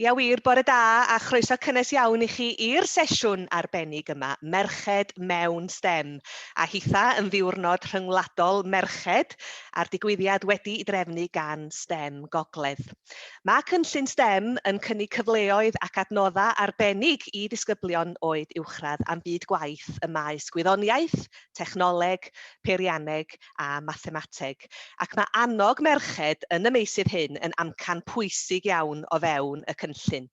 Ia wir, bore da a chroeso cynnes iawn i chi i'r sesiwn arbennig yma, Merched mewn stem, a hitha yn ddiwrnod rhyngwladol merched a'r digwyddiad wedi i drefnu gan stem Gogledd. Mae cynllun stem yn cynnig cyfleoedd ac adnodda arbennig i ddisgyblion oed uwchradd am byd gwaith y maes gwyddoniaeth, technoleg, peirianneg a mathemateg, ac mae annog merched yn y meysydd hyn yn amcan pwysig iawn o fewn y cynllun.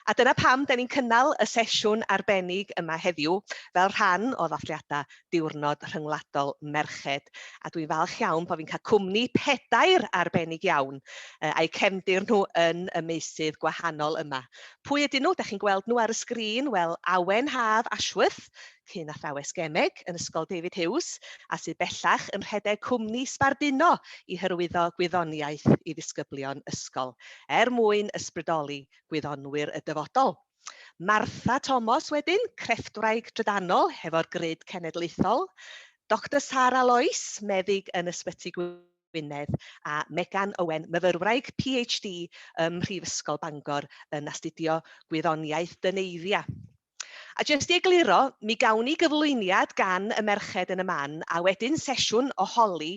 A dyna pam da ni'n cynnal y sesiwn arbennig yma heddiw fel rhan o ddathliadau Diwrnod Rhyngwladol Merched, a dwi'n falch iawn bod fi'n cael cwmni pedair arbennig iawn a'u cefndir nhw yn y meysydd gwahanol yma. Pwy ydyn nhw? Da chi'n gweld nhw ar y sgrin? Wel, Awen Haf Ashworth, cyn athrawes gemeg yn Ysgol David Hughes a sydd bellach yn rhedeg cwmni sbarduno i hyrwyddo gwyddoniaeth i ddisgyblion ysgol er mwyn ysbrydoli gwyddonwyr y dyfodol. Martha Tomos wedyn, crefftwraig drydanol hefo'r Grid Cenedlaethol, Doctor Sara Lois, meddyg yn Ysbyty Gwynedd, a Megan Owen, myfyrwraig PhD ym Mhrifysgol Bangor yn astudio gwyddoniaeth dyneiddia. A jyst i egluro, mi gawn ni gyflwyniad gan y merched yn y man, a wedyn sesiwn o holi,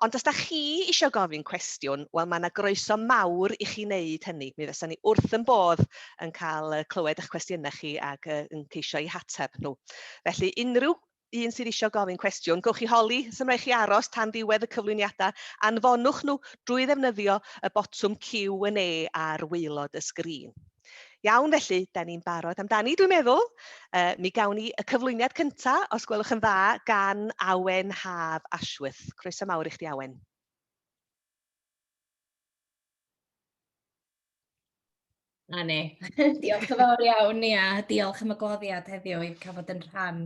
ond os da chi isio gofyn cwestiwn, wel mae yna groeso mawr i chi wneud hynny. Mi fysa ni wrth yn bodd yn cael clywed eich cwestiynau chi ac yn ceisio eu hateb nhw. Felly unrhyw un sydd eisiau gofyn cwestiwn, gowch chi holi, sy'n rhaid chi aros tan ddiwedd y cyflwyniadau, anfonwch nhw drwy ddefnyddio y botwm Q&A ar waelod y sgrin. Iawn felly, da ni'n barod amdani, dwi'n meddwl. Uh, mi gawn ni y cyflwyniad cyntaf, os gwelwch yn dda, gan Awen Haf Ashworth. Croeso mawr i chdi, Awen. 'Na ni. Diolch yn fawr iawn, ia, diolch am y gwahoddiad heddiw i cael bod yn rhan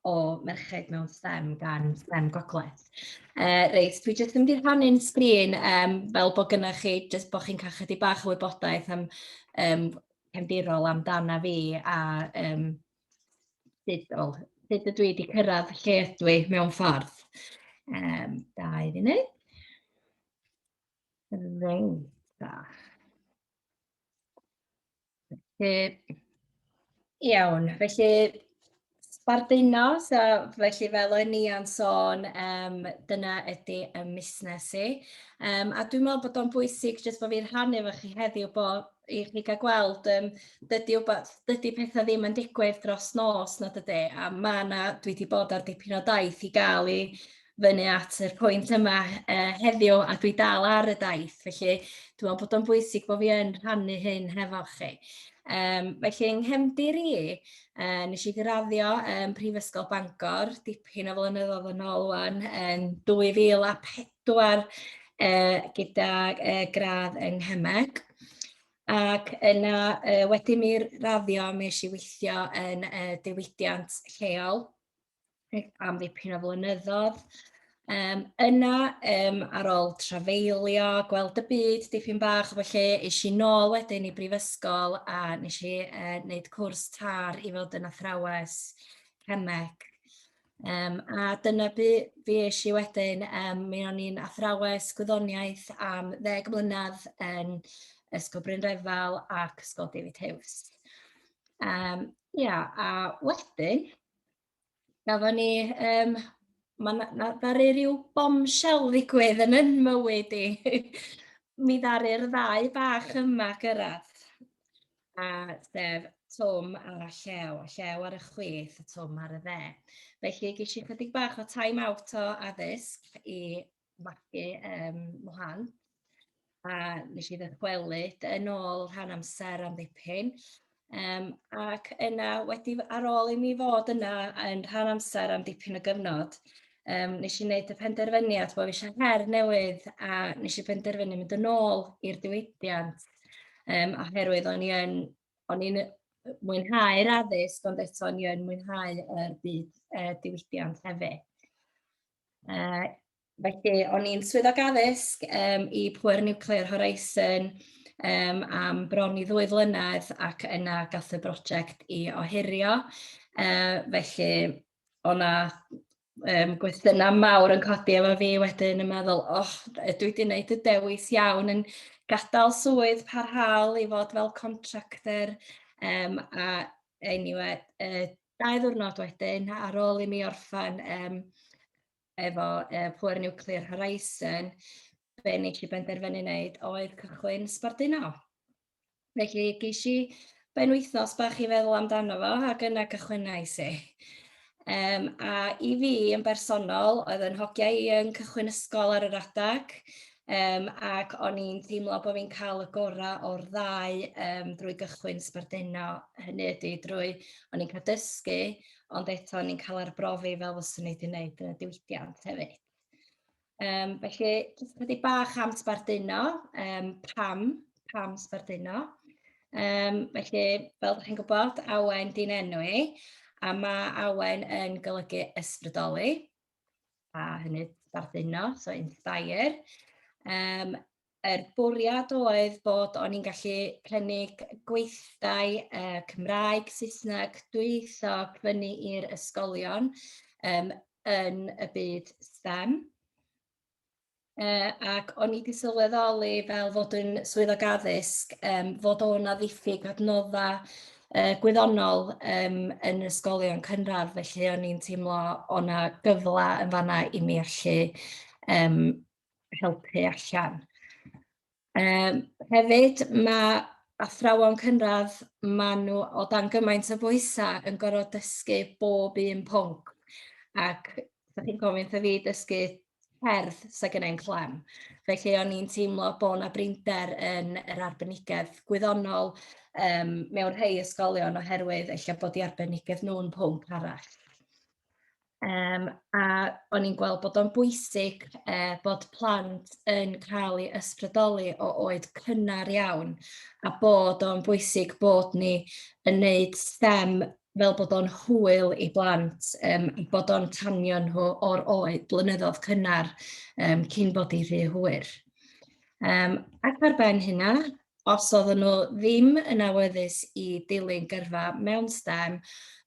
o Merched mewn STEM gan STEM Gogledd. Uh, reit, dwi jyst yn mynd i rhannu'n sgrin um, fel bod gynnwch chi, jyst bod chi'n cael chydig bach o wybodaeth am um, cefndirol amdana fi a um, sut, well, sut ydw i wedi cyrraedd lle ydw i mewn ffordd. Um, da i fi wneud. Reit da. Felly, iawn, felly sbardino, so, felly fel o'n i'n sôn, um, dyna ydy y musnes i. Um, a dwi'n meddwl bod o'n bwysig jyst bod fi'n rhannu efo chi heddiw bod i chi gael gweld, um, dydy, dydy pethau ddim yn digwydd dros nos na dydy, a mae yna, dwi wedi bod ar dipyn o daith i gael i fyny at yr pwynt yma uh, heddiw a dwi dal ar y daith, felly dwi'n meddwl bod o'n bwysig bod fi yn rhannu hyn hefo chi. Um, felly, yng nghefndir i, uh, nes i graddio um, Prifysgol Bangor, dipyn o flynyddoedd yn ôl wan, yn 2004, uh, gyda uh, gradd yng Nghymeg. Ac yna, uh, wedyn mi raddio, mi eisiau weithio yn uh, diwydiant lleol am ddipyn o flynyddoedd. Um, yna, um, ar ôl trafeilio, gweld y byd dipyn bach, felly eis i nôl wedyn i brifysgol a nes i uh, wneud cwrs tar i fod yn athrawes cemeg. Um, a dyna bu fi eis i wedyn, um, mi o'n i'n athrawes gwyddoniaeth am ddeg mlynedd yn Ysgol Bryn Refel ac Ysgol David Hughes. Um, ia, a wedyn, gafon ni, um, mae na, na, ddaru rhyw bombshell ddigwydd yn yn mywyd i. Mi ddaru'r ddau bach yma gyrraedd. A sef Tom ar y llew, a llew ar y chwith, a Tom ar y dde. Felly ges i chydig bach o time out o addysg i magu um, mhlant, a nes i ddychwelyd yn ôl rhan amser am ddipyn. Um, ac yna, wedi ar ôl i mi fod yna yn rhan amser am dipyn o gyfnod, um, nes i wneud y penderfyniad bod fi eisiau her newydd a nes i penderfynu mynd yn ôl i'r diwydiant um, oherwydd o'n i'n o'n i'n mwynhau'r addysg ond eto o'n i'n mwynhau y byd uh, diwydiant hefyd. Uh, felly, o'n i'n swyddog addysg um, i Pwer Nuclear Horizon um, am bron i ddwy flynedd ac yna gath y brosiect i ohirio. Uh, felly, o'na um, gwestiynau mawr yn codi efo fi wedyn yn meddwl, oh, dwi wedi gwneud y dewis iawn yn gadael swydd parhaol i fod fel contractor um, a anyway, uh, Dau ddiwrnod wedyn, ar ôl i mi orffen um, efo uh, Poor Nuclear Horizon, be nes i benderfynu wneud oedd cychwyn sbarduno. Felly geis i ben wythnos bach i feddwl amdano fo ac yna cychwynnau i. Um, a i fi yn bersonol, oedd yn hogiau i yn cychwyn ysgol ar yr adag, Um, ac o'n i'n teimlo bod fi'n cael y gorau o'r ddau um, drwy gychwyn sbarduno hynny ydy drwy o'n i'n cael dysgu, ond eto o'n i'n cael arbrofi fel fyswn i wedi gwneud yn y diwydiant hefyd. Um, felly, jyst wedi bach am sbarduno, um, pam, pam sbarduno. Um, felly, fel ydych chi'n gwybod, awen di'n enw i, a mae awen yn golygu ysbrydoli. a hynny sbarduno, so inspire. Um, er bwriad oedd bod o'n i'n gallu prynu gweithdai uh, Cymraeg, Saesneg, dwyieithog fyny i'r ysgolion um, yn y byd STEM. uh, ac o'n i wedi sylweddoli fel fod yn swyddog addysg um, fod o'na ddiffyg adnodda uh, gwyddonol um, yn ysgolion cynradd, felly o'n i'n teimlo o'na gyfle yn fanna i mi allu um, helpu allan. Yym hefyd ma' athrawon cynradd ma' nhw o dan gymaint o bwysau yn gorfod dysgu bob un pwnc ac dych chi'n gofyn wrtha fi dysgu cerdd sa gynna i'm clem felly o'n i'n teimlo bo' 'na brinder yn yr arbenigedd gwyddonol yym mewn rhei ysgolion oherwydd ella bod 'u arbenigedd nhw'n pwnc arall. Yym a o'n i'n gweld bod o'n bwysig yy bod plant yn cael eu ysbrydoli o oed cynnar iawn, a bod o'n bwysig bod ni yn neud STEM fel bod o'n hwyl i blant yym i bod o'n tanio nhw o'r oed blynyddoedd cynnar yym cyn bod hi'n rhy hwyr. Yym ac ar ben hynna, os oedden nhw ddim yn awyddus i dilyn gyrfa mewn STEM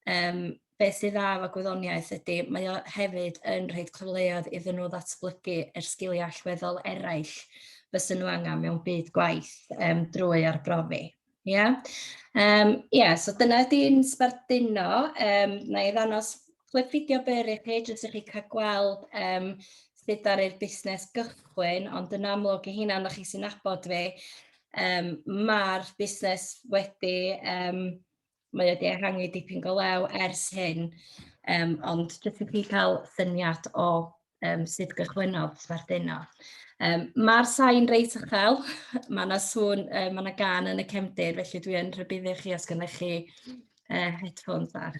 yym beth sydd dda efo gwyddoniaeth ydy, mae o hefyd yn rhoi cyfleoedd iddyn nhw ddatblygu yr sgiliau allweddol eraill fysen nhw angen mewn byd gwaith um, drwy arbrofi. Ie, yeah? um, yeah, so dyna ydy'n sbarduno. Um, na i ddanos clip fideo byr i chi, jyst i chi cael gweld um, sut ar i'r busnes gychwyn, ond yn amlwg i hynna, na chi sy'n abod fi, um, mae'r busnes wedi um, Mae o 'di ehangu dipyn go lew ers hyn, yym ond jyst i chi cael syniad o yym sut gychwynnodd Sbarduno. Yym ma'r sain reit uchel, ma' 'na sŵn yy ma' 'na gân yn y cefndir, felly dwi yn rhybuddio chi os gynnoch chi yy headphones bach.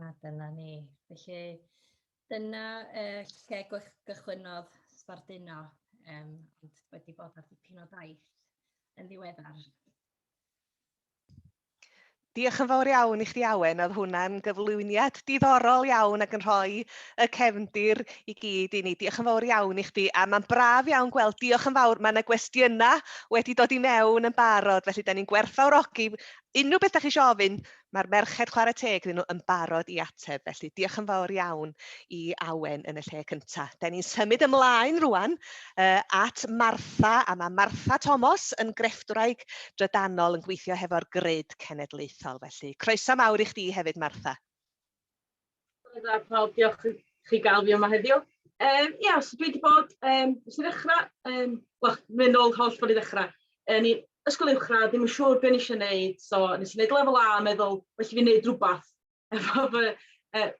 A dyna ni. Felly, dyna uh, lle gychwynnodd sbarduno, um, ond wedi bod ar dipyn o daith yn ddiweddar. Diolch yn fawr iawn i chdi Awen, oedd hwnna'n gyflwyniad diddorol iawn ac yn rhoi y cefndir i gyd i ni. Diolch yn fawr iawn i chdi, a mae'n braf iawn gweld, diolch yn fawr, mae yna gwestiynau wedi dod i mewn yn barod, felly da ni'n gwerthfawrogi unrhyw beth da chi eisiau ofyn, Mae'r merched, chwarae teg iddyn nhw, yn barod i ateb, felly diolch yn fawr iawn i Awen yn y lle cyntaf. Da ni'n symud ymlaen rwan uh, at Martha, a mae Martha Thomas yn grefftwraig drydanol yn gweithio hefo'r grid cenedlaethol, felly croeso mawr i chdi hefyd, Martha. Hwyl da pawb, diolch i chi gael fi yma heddiw. Um, ia, so dwi wedi bod, um, nes i ddechrau, um, wel, mynd ôl holl fod i ddechrau, yn i ysgol uwchradd, ddim yn siŵr beth nes i wneud, so nes i wneud lefel A, meddwl, well i fi wneud rhywbeth. Efo fy, uh,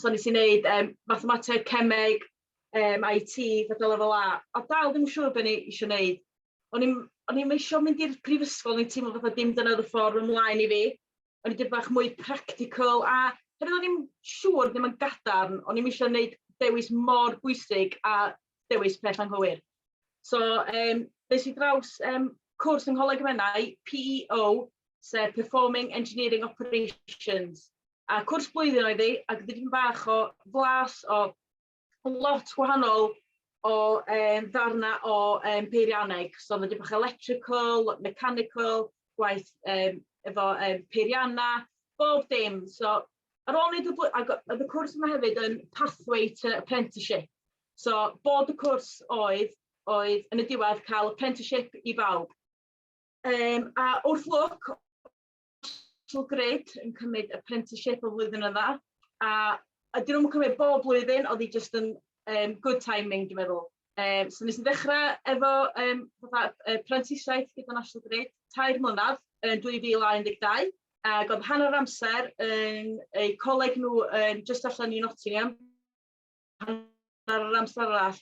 so nes i wneud um, mathemateg, cemeg, um, IT, fydda lefel A, a dal ddim yn siŵr beth ni eisiau wneud. O'n i'n eisiau mynd i'r prifysgol, o'n i'n teimlo fatha dim dyna oedd y ffordd ymlaen i fi. o'n i dipyn bach mwy practical a hefyd o'n i'm siŵr, ddim yn gadarn, o'n i'm eisiau gwneud dewis mor bwysig a dewis peth anghywir. So, um, nes i draws um, cwrs yng Ngholeg y Menai, PEO, sef Performing Engineering Operations. A cwrs blwyddyn oedd hi, ac ddim bach o flas o lot gwahanol o yym ddarna o yym peirianneg so ma' dipyn bach o electrical, mechanical, gwaith yym efo yym peirianna, bob dim so ar ôl neud y bly- ag o- o'dd y cwrs yma hefyd yn pathway to apprenticeship so bod y cwrs oedd oedd yn y diwedd ca'l apprenticeship i bawb. Yym a wrth lwc National Grid yn cymryd apprenticeship o flwyddyn yma, a ydyn nhw'n cymryd bob blwyddyn, oedd hi jyst yn um, good timing, dwi'n meddwl. Um, so nes i ddechrau efo um, prentisiaeth gyda National Grid, tair mlynedd yn 2012, ac oedd hanner amser yn eu coleg nhw um, just allan i Nottingham, hanner yr amser arall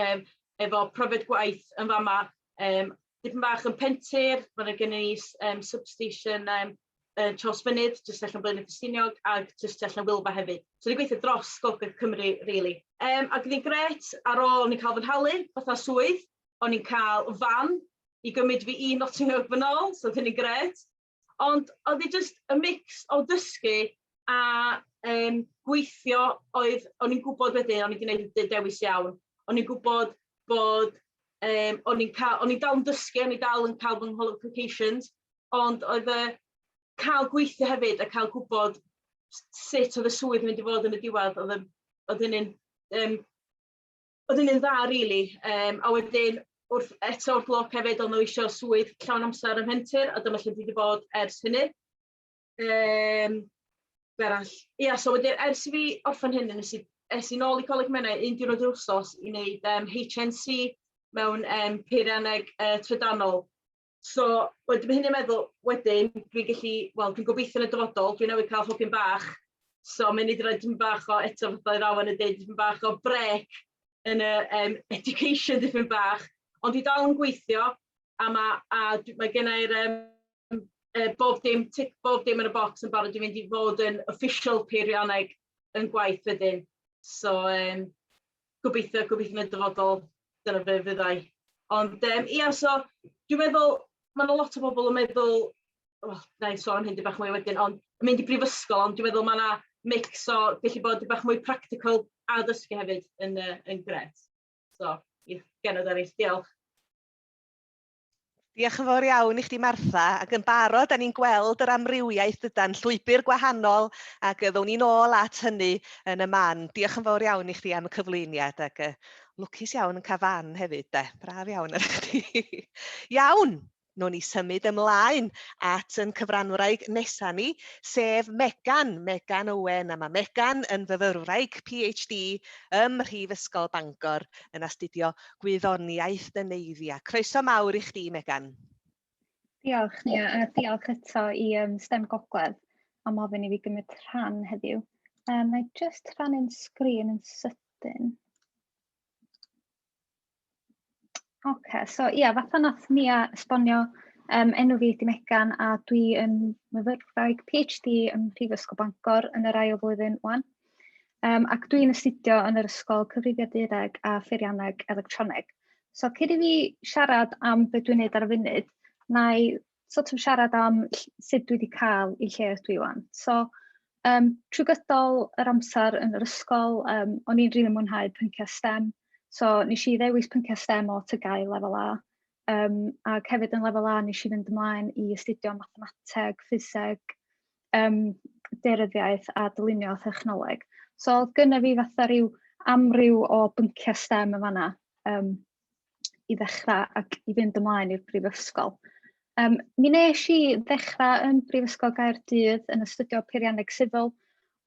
um, efo profiad gwaith yn fama. Um, dipyn bach yn pentir, mae'n gen i um, substation um, uh, Charles Fynydd, jyst allan Blaen y Ffestiniog, ac jyst allan Wilfa hefyd. So ni'n gweithio dros Gogledd Cymru, really. Um, ac ni'n gret, ar ôl ni'n cael fy nhalu, fatha swydd, o'n i'n cael fan i gymryd fi i Nottingham yn ôl, so dyn ni'n gret. Ond oedd hi jyst y mix o dysgu a um, gweithio oedd, o'n i'n gwybod wedyn, o'n i wedi gwneud y dewis iawn, o'n i'n gwybod bod, um, o'n i'n cael, o'n i'n dal yn dysgu, o'n i'n dal yn cael fy ngholoffications, ond oedd y cael gweithio hefyd a cael gwybod sut oedd y swydd yn mynd i fod yn y diwedd, oedd, oedd hynny'n um, O'dd yn un dda rili yym a wedyn wrth eto wrth lwc hefyd o'n n'w isio swydd llawn amser ym Mhentir a dyma lle dwi 'di bod ers hynny. Yym be' arall? Ia so wedyn ers i fi orffen hyn nes i es i nôl i Coleg Menai un diwrnod yr wsos i neud yym HNC mewn yym peirianneg yy trydanol. So, wedyn mae hynny'n i'n meddwl, wedyn, dwi'n gallu, wel, dwi'n gobeithio yn y dyfodol, dwi'n newydd cael hogyn bach, so mae'n nid rhaid yn bach o eto fatha i'r awen yn dweud, dipyn bach o brec yn y um, education dipyn bach, ond dwi dal yn gweithio, a mae, a mae gennau'r um, uh, bob dim, tic bob dim yn y bocs yn barod i fynd i fod yn official peirianneg yn gwaith wedyn. So, um, gobeithio, gobeithio yn y dyfodol, dyna fe fyddai. Ond um, ia, so dwi'n meddwl, mae yna lot o bobl yn meddwl, oh, na i sôn hyn di bach mwy wedyn, ond yn mynd i brifysgol, ond dwi'n meddwl mae yna mix o gallu bod di bach mwy practical a ddysgu hefyd yn, uh, yn gret. So, i genod eraill, diolch. Diolch yn fawr iawn i chdi Martha, ac yn barod da ni'n gweld yr amrywiaeth dydan, llwybr gwahanol ac ddown ni'n ôl at hynny yn y man. Diolch yn fawr iawn i chdi am y cyflwyniad ac uh, lwcus iawn yn cael fan hefyd de, braf iawn ar chdi. iawn, nown ni symud ymlaen at yn cyfranwraig nesa ni, sef Megan, Megan Owen, a mae Megan yn fyfyrwraig PhD ym Mhrifysgol Bangor yn astudio gwyddoniaeth Neneiddia. Croeso mawr i chdi, Megan. Diolch, Nia, a diolch eto i um, STEM Gogledd am ofyn i fi gymryd rhan heddiw. Um, mae just rhannu'n sgrin yn sydyn. Oce, okay, so ia, yeah, fatha nath Nia esbonio, um, enw fi ydi Megan a dwi yn myfyrwraig PhD ym Mhrifysgol Bangor yn yr ail flwyddyn wan. Um, ac dwi'n astudio yn yr Ysgol Cyfrifiadureg a Pheirianneg Electroneg. So cyd i fi siarad am beth dwi'n neud ar y funud, na i sort of siarad am sut dwi wedi cael i lle ydw i wan. So um, trwy gydol yr amser yn yr ysgol, um, o'n i'n rili mwynhau pynciau STEM. So nes i ddewis pynciau STEM o tygau lefel A. Um, ac hefyd yn lefel A nes i fynd ymlaen i astudio mathemateg, ffiseg, um, deiryddiaeth a dylunio thechnoleg. So oedd gynna fi fatha rhyw amryw o bynciau STEM yn fanna um, i ddechrau ac i fynd ymlaen i'r brifysgol. Um, mi nes i ddechrau yn Brifysgol Gaerdydd yn astudio peirianneg sifil,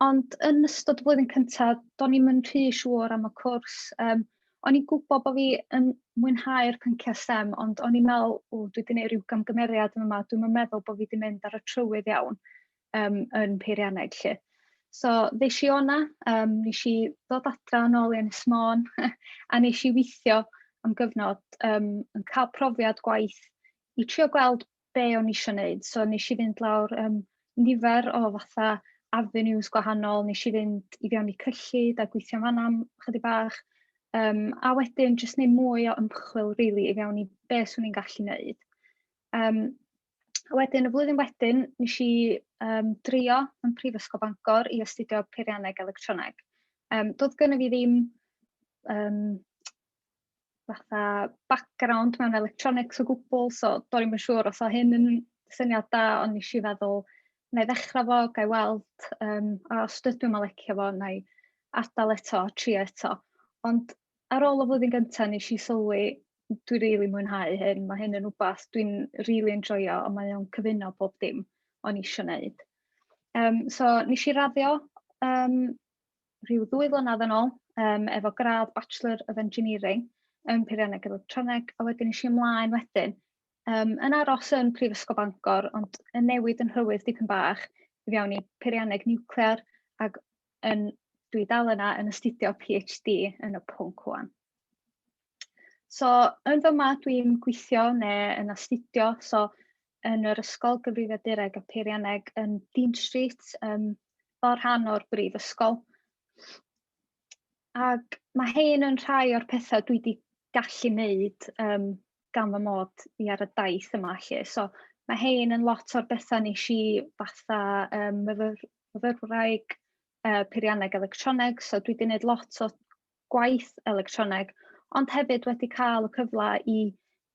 ond yn ystod y flwyddyn cyntaf, do'n i'm yn rhy siŵr am y cwrs. Um, o'n i'n gwybod bod fi yn mwynhau'r pynciau STEM, ond o'n i'n meddwl, o, dwi wedi gwneud rhyw gamgymeriad yma, dwi'n yn meddwl bod fi wedi mynd ar y trywydd iawn um, yn peirianneg lle. So, ddeis i o'na, um, nes i ddod adra yn ôl i Ynys Môn, a nes i weithio am gyfnod um, yn cael profiad gwaith i trio gweld be o'n i eisiau wneud. So nes i fynd lawr um, nifer o fatha avenues gwahanol, nes i fynd i fewn i cyllid a gweithio fanna am chydig bach, um, a wedyn jyst neud mwy o ymchwil really, i fewn i be swn i'n gallu wneud. Um, a wedyn, y flwyddyn wedyn, nes i um, drio yn Prifysgol Bangor i astudio peirianneg electroneg. Um, doedd gen i fi ddim um, fatha background mewn electronics o gwbl, so do'n i'm yn siŵr os o hyn yn syniad da, ond nes i feddwl, na i ddechrau fo, ga i weld, um, a os dydw i'n licio fo, na i adael eto, tri eto. Ond ar ôl y flwyddyn gyntaf, nes i sylwi, dwi rili really mwynhau hyn, mae hyn yn rhywbeth dwi'n rili really enjoyo, ond mae o'n cyfuno bob dim o'n i eisiau gwneud. Um, so, nes i raddio um, rhyw ddwy flynedd yn ôl um, efo gradd Bachelor of Engineering yn Peirianneg Electroneg, a wedyn eisiau ymlaen wedyn um, yn aros yn Prifysgol Bangor, ond yn newid yn rhywydd dipyn bach i fewn i peirianneg niwclear, ac yn, dwi dal yna yn astudio PhD yn y pwnc hwan. So, yn fy fyma dwi'n gweithio neu yn astudio, so yn yr Ysgol Gyfrifiadureg a Peirianneg yn Dean Street, um, fel rhan o'r brifysgol. Ac mae hyn yn rhai o'r pethau dwi wedi gallu wneud um, gan fy mod i ar y daith yma. Lle. So, mae hyn yn lot o'r bethau nes i fatha um, myfyrwraig uh, peirianneg electroneg, so dwi wedi gwneud lot o gwaith electroneg, ond hefyd wedi cael y cyfle i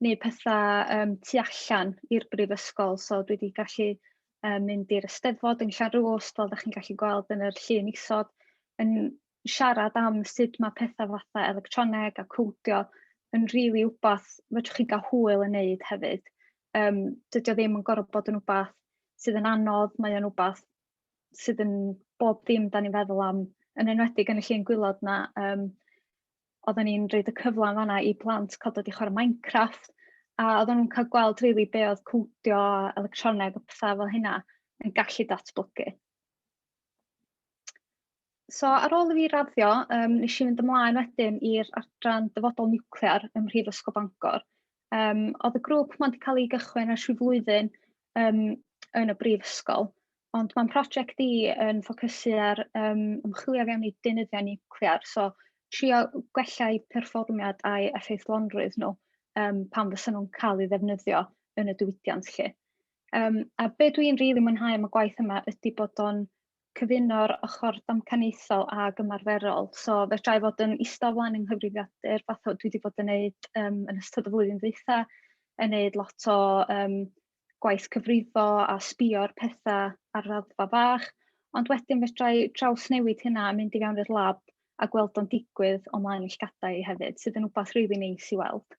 wneud pethau um, tu allan i'r brifysgol, so dwi wedi gallu um, mynd i'r ysteddfod yn Llanrwst, fel da chi'n gallu gweld yn yr llun isod, yn siarad am sut mae pethau fatha electroneg a cwdio yn rili really wbath fedrwch chi gael hwyl yn neud hefyd. Um, dydy o ddim yn gorfod bod yn wbath sydd yn anodd, mae o'n wbath sydd yn bob dim dan ni'n feddwl am, yn enwedig yn y llun gwylod na, um, oedden ni'n rhoi y cyfle yn fanna i plant cael dod i chwarae Minecraft, a oedden nhw'n cael gweld rili really be oedd cwdio a electroneg a pethau fel hynna yn gallu datblygu. So ar ôl i fi raddio, um, nes i fynd ymlaen wedyn i'r adran dyfodol niwclear ym Mhrifysgol Bangor. Um, oedd y grŵp ma'n wedi cael ei gychwyn ers rhyw flwyddyn um, yn y brifysgol, ond mae'n prosiect i yn ffocysu ar um, ymchwilio fewn i deunyddiau niwclear, so trio gwella'u perfformiad a'i effeithlonrwydd nhw um, pan fysa nhw'n cael ei ddefnyddio yn y diwydiant lle. Um, a be dwi'n rili really mwynhau am y gwaith yma ydy bod o'n cyfuno'r ochr damcaniaethol ag ymarferol. So fedra i fod yn ista o flaen yng nghyfrifiadur, fath o dwi wedi bod yn neud um, yn ystod y flwyddyn ddwytha, yn neud lot o um, gwaith cyfrifo a sbio'r pethau ar raddfa fach, ond wedyn fedra i trawsnewid hynna a mynd i fewn i'r lab a gweld o'n digwydd o mlaen llgadau hefyd, sydd yn wbath rili really neis i weld.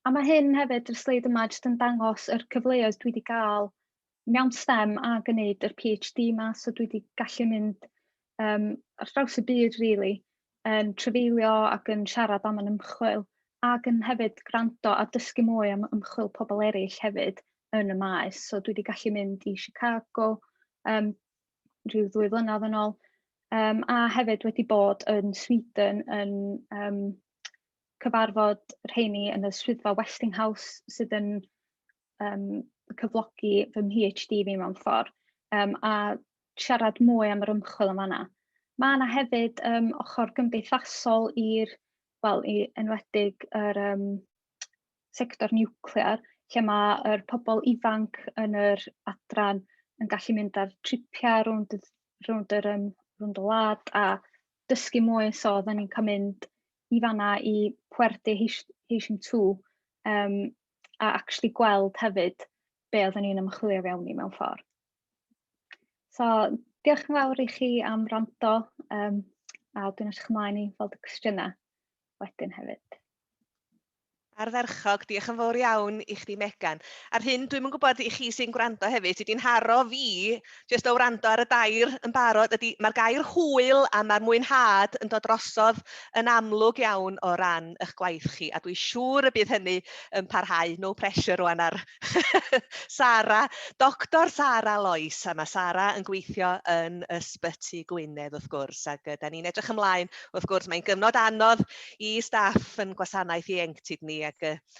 A mae hyn hefyd, y sleid yma, jyst yn dangos yr cyfleoedd dwi wedi cael mewn stem a gwneud yr PhD 'ma so dwi 'di gallu mynd um, ar draws y byd really, yn trefeilio ac yn siarad am yn ymchwil ac yn hefyd gwrando a dysgu mwy am ymchwil pobl eraill hefyd yn y maes. So dwi wedi gallu mynd i Chicago um, rhyw ddwy flynedd yn ôl um, a hefyd wedi bod yn Sweden yn um, cyfarfod rheini yn y swyddfa Westinghouse sydd yn um, cyflogi fy PhD fi mewn ffordd um, a siarad mwy am yr ymchwil yn fanna. Mae yna hefyd um, ochr gymdeithasol i'r, wel, i enwedig yr um, sector niwclear, lle mae'r pobl ifanc yn yr adran yn gallu mynd ar tripiau rownd, rownd, yr, um, rownd y lad a dysgu mwy, so oedden ni'n cael mynd i fanna i Puerte Heishim 2, um, a actually gweld hefyd be oeddwn ni'n ymchwilio fewn i mewn ffordd. So, diolch yn fawr i chi am rando um, a dwi'n eich ymlaen i fod y cwestiynau wedyn hefyd. Ardderchog, diolch yn fawr iawn i chdi Megan. A'r hyn dwi'm yn gwybod i chi sy'n gwrando hefyd, sydd wedi'n haro fi jyst o wrando ar y dair yn barod ydy mae'r gair hwyl a mae'r mwynhad yn dod drosodd yn amlwg iawn o ran eich gwaith chi a dwi'n siŵr y bydd hynny yn parhau. No pressure rwan ar Sara, Doctor Sara Lois a mae Sara yn gweithio yn Ysbyty Gwynedd wrth gwrs ac da ni'n edrych ymlaen wrth gwrs mae'n gyfnod anodd i staff yn gwasanaeth ieuenctid ni ac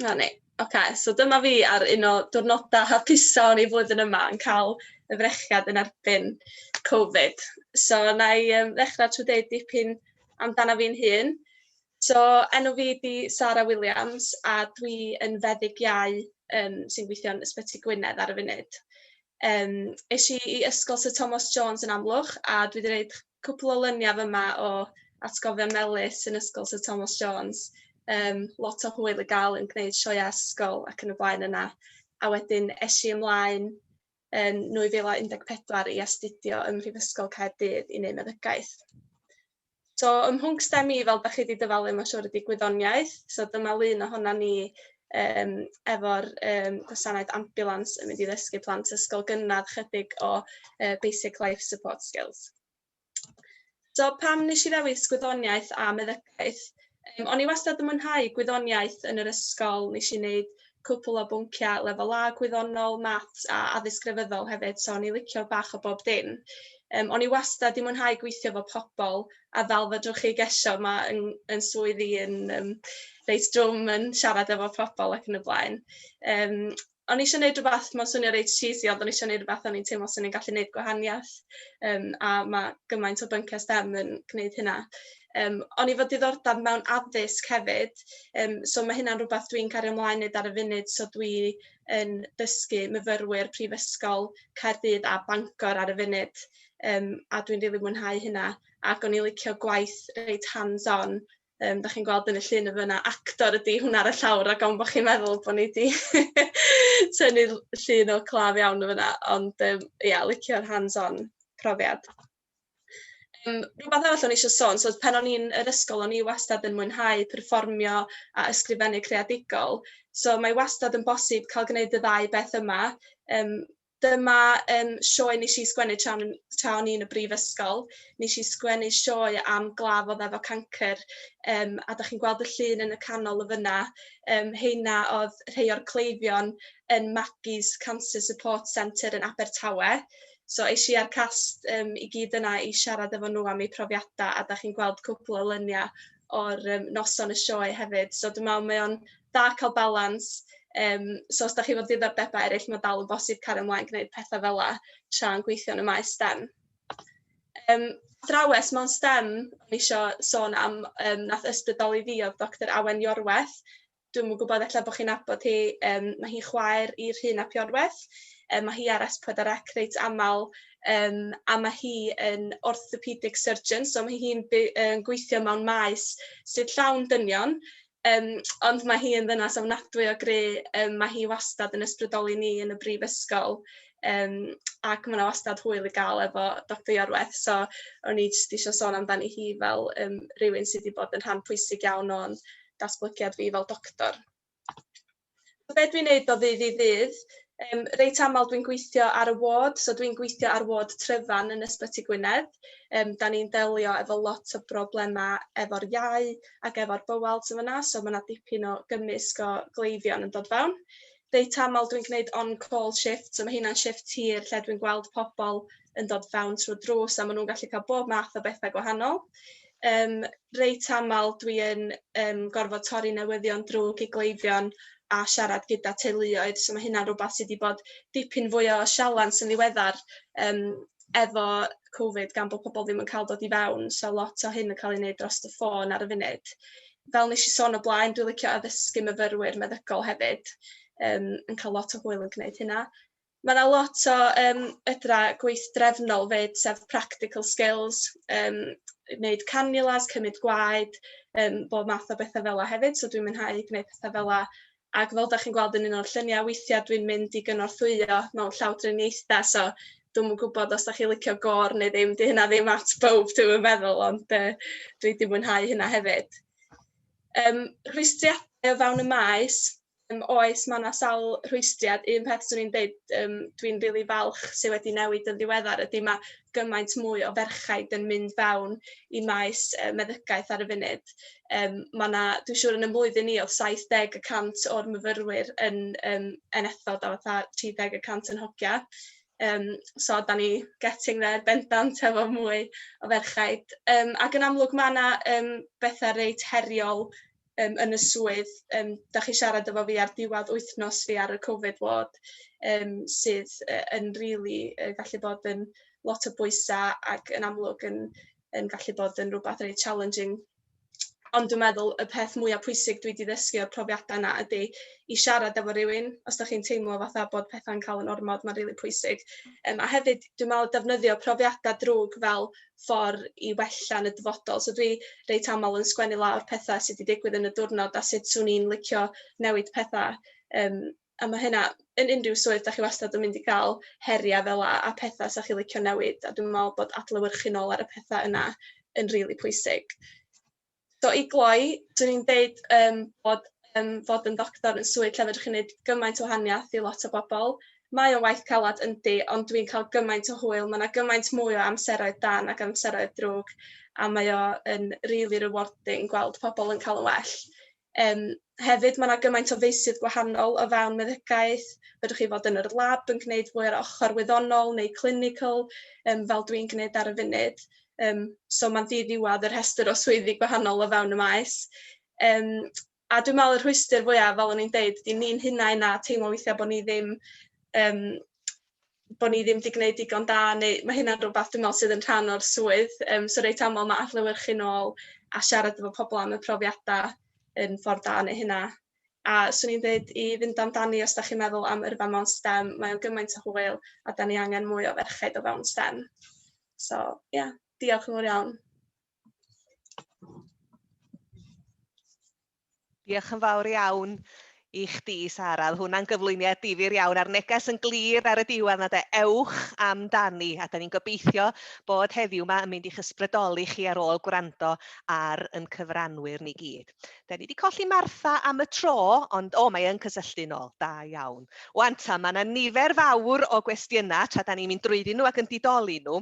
'Na ni. Ocê so dyma fi ar un o diwrnoda hapusa o'n i flwyddyn yma yn ca'l y frechiad yn erbyn Covid. So 'na i yym ddechra trw deud dipyn amdana fi'n hun. So enw fi 'di Sara Williams a dwi yn feddyg iau yym sy'n gweithio'n Ysbyty Gwynedd ar y funud. Yym esh i i Ysgol Syr Tomos Jones yn Amlwch a dwi 'di neud cwpwl o lynia fyma o atgofion melys yn ysgol Syr Tomos Jones yym lot o hwyl i ga'l yn gneud sioea ysgol ac yn y blaen yna a wedyn esh i ymlaen yn nwy fil a un deg pedwar i astudio ym Mhrifysgol Caerdydd i neud meddygaeth. So ym mhwnc stem i fel dach chi 'di dyfalu ma' siŵr ydi gwyddoniaeth so dyma lun ohona ni yym efo'r yym gwasanaeth ambiwlans yn mynd i ddysgu plant ysgol gynradd chydig o yy basic life support skills. So pam nes i ddewis gwyddoniaeth a meddygaeth? Yym o'n i wastad yn mwynhau gwyddoniaeth yn yr ysgol, nes i neud cwpwl o bwncia lefel A gwyddonol, maths a addysg grefyddol hefyd, so o'n i licio bach o bob dim. Yym o'n i wastad 'di mwynhau gweithio efo pobol a fel fedrwch chi gesio ma' 'yn 'yn swydd i yn yym reit drwm yn siarad efo pobol ac yn y blaen. Yym o'n i isio neud rwbath ma'n swnio reit cheesy ond o'n i isio neud rwbath o'n i'n teimlo swn i'n gallu neud gwahaniath yym a ma' gymaint o byncie STEM yn gneud hynna. Yym o'n i efo diddordab mewn addysg hefyd yym so ma' hynna'n rwbath dwi'n cario mlaen neud ar y funud so dwi yn dysgu myfyrwyr prifysgol Caerdydd a Bangor ar y funud. um, a dwi'n rili really mwynhau hynna. Ac o'n i'n licio gwaith reit hands-on. Um, da chi'n gweld yn y llun y fyna, actor ydy hwnna ar y llawr, ac am bod chi'n meddwl bod ni wedi tynnu llun o claf iawn y fyna, ond um, yeah, licio'r hands-on profiad. Um, rhywbeth arall o'n eisiau sôn, so pen o'n i'n yr ysgol, o'n i wastad yn mwynhau perfformio a ysgrifennu creadigol. So mae wastad yn bosib cael gwneud y ddau beth yma. Um, Dyma yym sioe nes i sgwennu tra o'n tra o'n i yn y brifysgol nes i sgwennu sioe am glaf odd efo cancer yym a 'dach chi'n gweld y llun yn y canol y' fyna yym rheina odd rhei o'r cleifion yn Maggie's Cancer Support Centre yn Abertawe so esh i a'r cast yym i gyd yna i siarad efo nw am eu profiada a 'dach chi'n gweld cwpwl o lynia o'r um, noson y sioe hefyd. So dwi'n meddwl mae o'n da cael balans. Um, so os da chi fod diddordebau eraill, mae dal yn bosib cario ymlaen gwneud pethau fel la tra'n gweithio yn y maes STEM. Um, drawes mewn STEM, o'n eisiau sôn am, um, nath ysbrydoli fi oedd Dr Awen Iorweth, dwi'm yn gwybod ella bo' chi'n nabod hi yym ma' hi chwaer i Rhun ap Iorwerth yy ma' hi ar es pedwar ec reit amal yym a ma' hi yn orthopedic surgeon so ma' hi'n by- yn gweithio mewn maes sydd llawn dynion yym ond ma' hi yn ddynas ofnadwy o gry' yym ma' hi wastad yn ysbrydoli ni yn y brifysgol yym ac ma' 'na wastad hwyl i ga'l efo doctor Iorwerth so o'n i jyst isio sôn amdani hi fel yym rywun sy 'di bod yn rhan pwysig iawn o'n datblygiad fi fel doctor. So be dwi'n neud o ddydd i ddydd? Um, reit aml dwi'n gweithio ar y ward, so dwi'n gweithio ar ward tryfan yn Ysbyty Gwynedd. Um, da ni'n delio efo lot o broblemau efo'r iau ac efo'r bywel sy'n fyna, so mae yna dipyn o gymysg o gleifion yn dod fewn. Reit aml dwi'n gwneud on-call shift, so mae hynna'n shift tir lle dwi'n gweld pobl yn dod fewn trwy drws a maen nhw'n gallu cael bob math o bethau gwahanol. Yym reit aml dwi yn yym gorfod torri newyddion drwg i gleifion a siarad gyda teuluoedd so ma' hynna'n rwbath sy 'di bod dipyn fwy o sialans yn ddiweddar yym efo Covid gan bo' pobol ddim yn ca'l dod i fewn so lot o hyn yn ca'l ei neud drost y ffôn ar y funud. Fel nesh i sôn o blaen dwi licio addysgu myfyrwyr meddygol hefyd yym yn ca'l lot o hwyl yn gneud hynna. Ma' 'na lot o yym fedra gweithdrefnol 'fyd sef practical skills yym neud cannulas cymyd gwaed yym bob math o betha fela hefyd so dwi'n mwynhau gneud petha fela ag fel 'dach chi'n gweld yn un o'r llunia' weithia' dwi'n mynd i gynorthwyo mewn llawdriniaetha so dw'm yn gwbod os 'dach chi licio gor neu ddim 'di hynna ddim at bowb dwi'm yn meddwl ond yy dwi 'di mwynhau hynna hefyd. Yym rhwystrdia o fewn y maes Yym, oes, mae 'na sawl rhwystriad. Un peth 'swn i'n deud, yym, dwi'n rili falch sy wedi newid yn ddiweddar ydy ma' gymaint mwy o ferchaid yn mynd fewn i maes yy meddygaeth ar y funud. Yym ma' 'na dwi siŵr yn 'yn mlwyddyn ni o'dd saith deg y cant o'r myfyrwyr yn yym NFod a fatha tri deg y cant yn hogia. Yym so 'dan ni getting there bendant hefo mwy o ferchaid. Yym ac yn amlwg ma' 'na yym betha reit heriol um, yn y swydd, um, da chi siarad efo fi ar diwedd wythnos fi ar y Covid ward, um, sydd uh, yn rili really, uh, gallu bod yn lot o bwysau ac yn amlwg yn, yn gallu bod yn rhywbeth reit challenging. Ond dwi'n meddwl y peth mwyaf pwysig dwi wedi ddysgu o'r profiadau yna ydy i siarad efo rhywun, os da chi'n teimlo fatha bod pethau'n cael yn ormod, mae'n rili really pwysig. Um, a hefyd, dwi'n meddwl defnyddio profiadau drwg fel ffordd i wella yn y dyfodol. So dwi reit aml yn sgwennu lawr petha sy 'di digwydd yn y diwrnod a sut swn i'n licio newid petha um, a mae hynna yn unrhyw swydd da chi wastad yn mynd i gael heriau fel a, a petha sa chi licio newid a dwi'n meddwl bod adlewyrchu nôl ar y petha yna yn rili really pwysig. So i gloi, 'swn i'n deud yym bod yym fod yn ddoctor yn swydd lle fedrwch chi neud gymaint o wahaniath i lot o bobol. Mae o'n waith calad yndi ond dwi'n ca'l gymaint o hwyl ma' 'na gymaint mwy o amseroedd da nag amseroedd drwg a mae o yn rili rewarding gweld pobol yn ca'l yn well. Yym hefyd ma' 'na gymaint o feysydd gwahanol o fewn meddygaeth, fedrwch chi fod yn yr lab yn gneud mwy o'r ochor wyddonol neu clinical yym fel dwi'n gneud ar y funud yym so ma'n ddi-ddiwadd y rhestr o swyddi gwahanol o fewn y maes. Yym a dwi me'wl y rhwystr fwya fel o'n i'n deud 'di ni'n hunain a teimlo weithia' bo' ni ddim yym bo' ni ddim 'di gneud digon da neu ma' hynna'n rwbath dwi me'wl sydd yn rhan o'r swydd yym so reit amal ma' adlewyrchu nôl a siarad efo pobol am y profiada yn ffordd da o neu' hynna. A swn i'n deud i fynd amdani os 'dach chi'n meddwl am yrfa mewn stem mae o'n gymaint o hwyl a 'dan ni angen mwy o ferched o fewn stem. So ia diolch yn fowr iawn. Diolch yn fawr iawn i chdi, Sara. Oedd hwnna'n gyflwyniad difyr iawn a'r neges yn glir ar y diwedd na de, ewch amdani. A da ni'n gobeithio bod heddiw yma yn mynd i'ch ysbrydoli chi ar ôl gwrando ar yn cyfranwyr ni gyd. Da ni wedi colli Martha am y tro, ond o, mae yn cysylltu nôl. Da iawn. Wan ta, mae yna nifer fawr o gwestiynau tra da ni'n mynd drwyddyn nhw ac yn didoli nhw.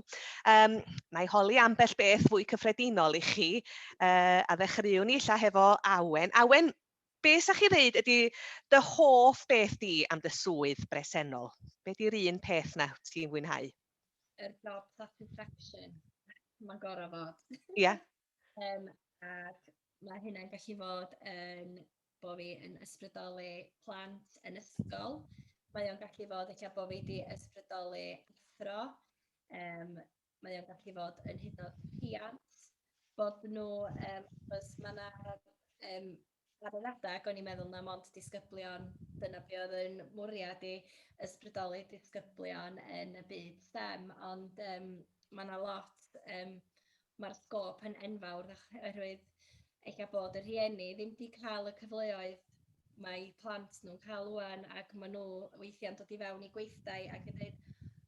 Um, mae holi ambell beth fwy cyffredinol i chi. uh, a ddechreuwn ni illa hefo Awen. Awen, be sa chi ddeud ydy dy hoff beth di am dy swydd bresennol? Be di'r un peth na ti'n fwynhau? Yr job satisfaction. Mae'n gorau fod. Ie. Yeah. um, ac mae hynna'n gallu fod yn bod fi yn ysbrydoli plant yn ysgol. Mae o'n gallu fod eich bod fi wedi ysbrydoli athro. Um, mae o'n gallu fod yn hyd yn oed rhiant, bod nhw, um, achos mae yna um, ar yr adeg, o'n i'n meddwl na mond disgyblion, dyna be oedd yn mwriad i ysbrydoli disgyblion yn y byd STEM, ond um, mae yna lot, um, mae'r sgôp yn enfawr oherwydd eich bod y rhieni ddim wedi cael y cyfleoedd mae plant nhw'n cael wwan ac maen nhw weithiau'n dod i fewn i gweithdai ac yn dweud,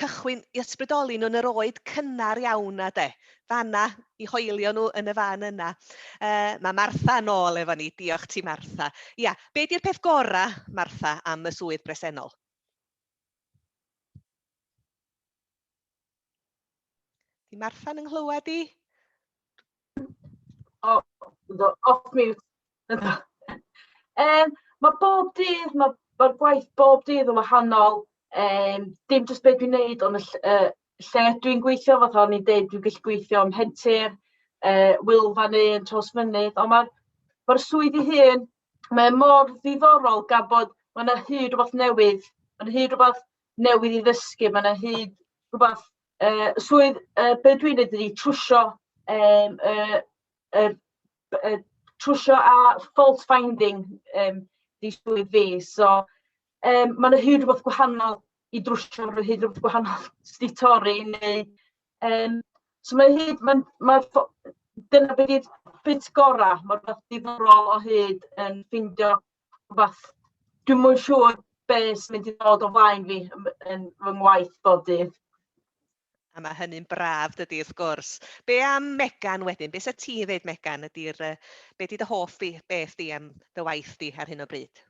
cychwyn i ysbrydoli nhw'n yr oed cynnar iawn na de. Fanna, i hoelio nhw yn y fan yna. Uh, mae Martha yn ôl efo ni. Diolch ti, Martha. Ia, be di'r peth gorau, Martha, am y swydd bresennol? Di Martha'n yng nghlywed i? O, yndw, off mute. Yym, ma' bob dydd, ma' ma'r gwaith bob dydd yn wahanol, yym, dim jyst be' dwi'n neud on' y ll- yy lle dwi'n gweithio fatha o'n i'n deud dwi'n gallu gweithio ym Mhentir, yy Wylfa neu yn Trawsfynydd, on' ma'r ma'r swydd 'i hun, mae e mor ddiddorol gan bod ma' 'na hyd rwbath newydd, ma' 'na hyd rwbath newydd i ddysgu, ma' 'na hyd rwbath uh, swydd, uh, be dwi'n neud ydi trwsio, um, uh, uh, uh, trwsio a fault finding um, di swydd fi. So, um, mae'n hyd rhywbeth gwahanol i drwsio, mae'n hyd rhywbeth gwahanol i torri, neu... Um, so mae'n hyd, mae'n... Ma, dyna beth i'r bit gorau, mae'r beth diddorol o hyd yn ffindio fath... dwi'm yn siŵr be sy'n mynd i ddod o flaen fi yn yn fy ngwaith bob dydd. A mae hynny'n braf, dydy, wrth gwrs. Be am Megan wedyn? Be sa ti'n ddeud, Megan, ydy'r... Uh, be di dy hoff di, beth di am dy waith di ar hyn o bryd?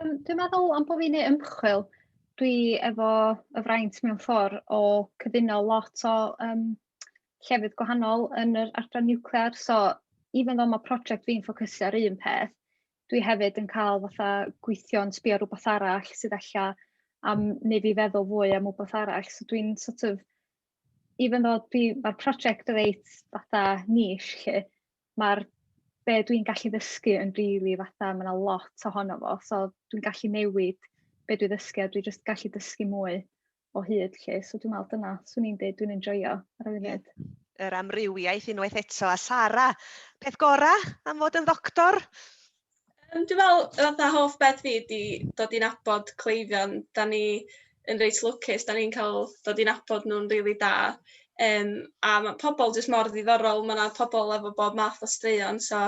Um, dwi'n meddwl am bod fi'n ei ymchwil, dwi efo y fraint mewn ffordd o cyfuno lot o um, llefydd gwahanol yn yr adran niwclear so even though ma' project fi'n ffocysu ar un peth dwi hefyd yn cael fatha gweithio yn sbio rwbath arall sydd ella am neu fi feddwl fwy am wbath arall so dwi'n sort of even though dwi ma'r project reit fatha niche 'lly ma'r be' dwi'n gallu ddysgu yn rili fatha ma' 'na lot ohono fo so dwi'n gallu newid be' dwi ddysgu a dwi jyst gallu dysgu mwy o hyd lle, so dwi'n meddwl dyna, swn i'n dweud dwi'n enjoyo ar y funud. Yr amrywiaeth unwaith eto, a Sara, peth gora am fod yn ddoctor? Um, dwi'n meddwl, fatha hoff beth fi di dod i'n abod cleifion, da ni yn reit lwcus, da ni'n cael dod i'n abod nhw'n rili really da. Um, a mae pobl jyst mor ddiddorol, mae yna pobl efo bob math o straeon, so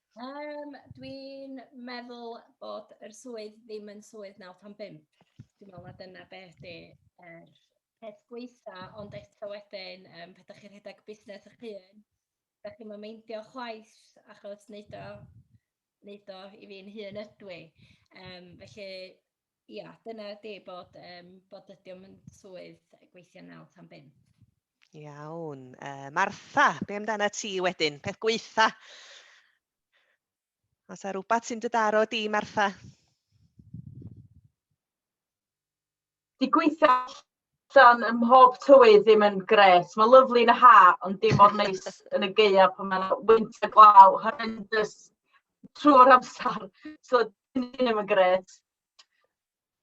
Um, dwi'n meddwl bod yr swydd ddim yn swydd 95. Dwi'n meddwl na dyna beth di er peth gweitha, ond eto wedyn, um, pe da chi'n rhedeg busnes eich hun, da chi'n meindio chwaith, achos wneud o, wneud o i fi'n hun ydw i. Um, felly, Ia, dyna ydi bod, um, bod ydi o'n mynd swydd gweithio naw tan bum. Iawn. Uh, Martha, be amdana ti wedyn? Peth gweitha? Os a rhywbeth sy'n dydaro di, Martha? Di gweitha Dan ym mhob tywydd ddim yn grêt. Mae'n lyfli yn y haf, ond dim mor neis yn y gaeaf pan mae'n wynt a glaw horrendous trwy'r amser. So, dim ddim yn grêt.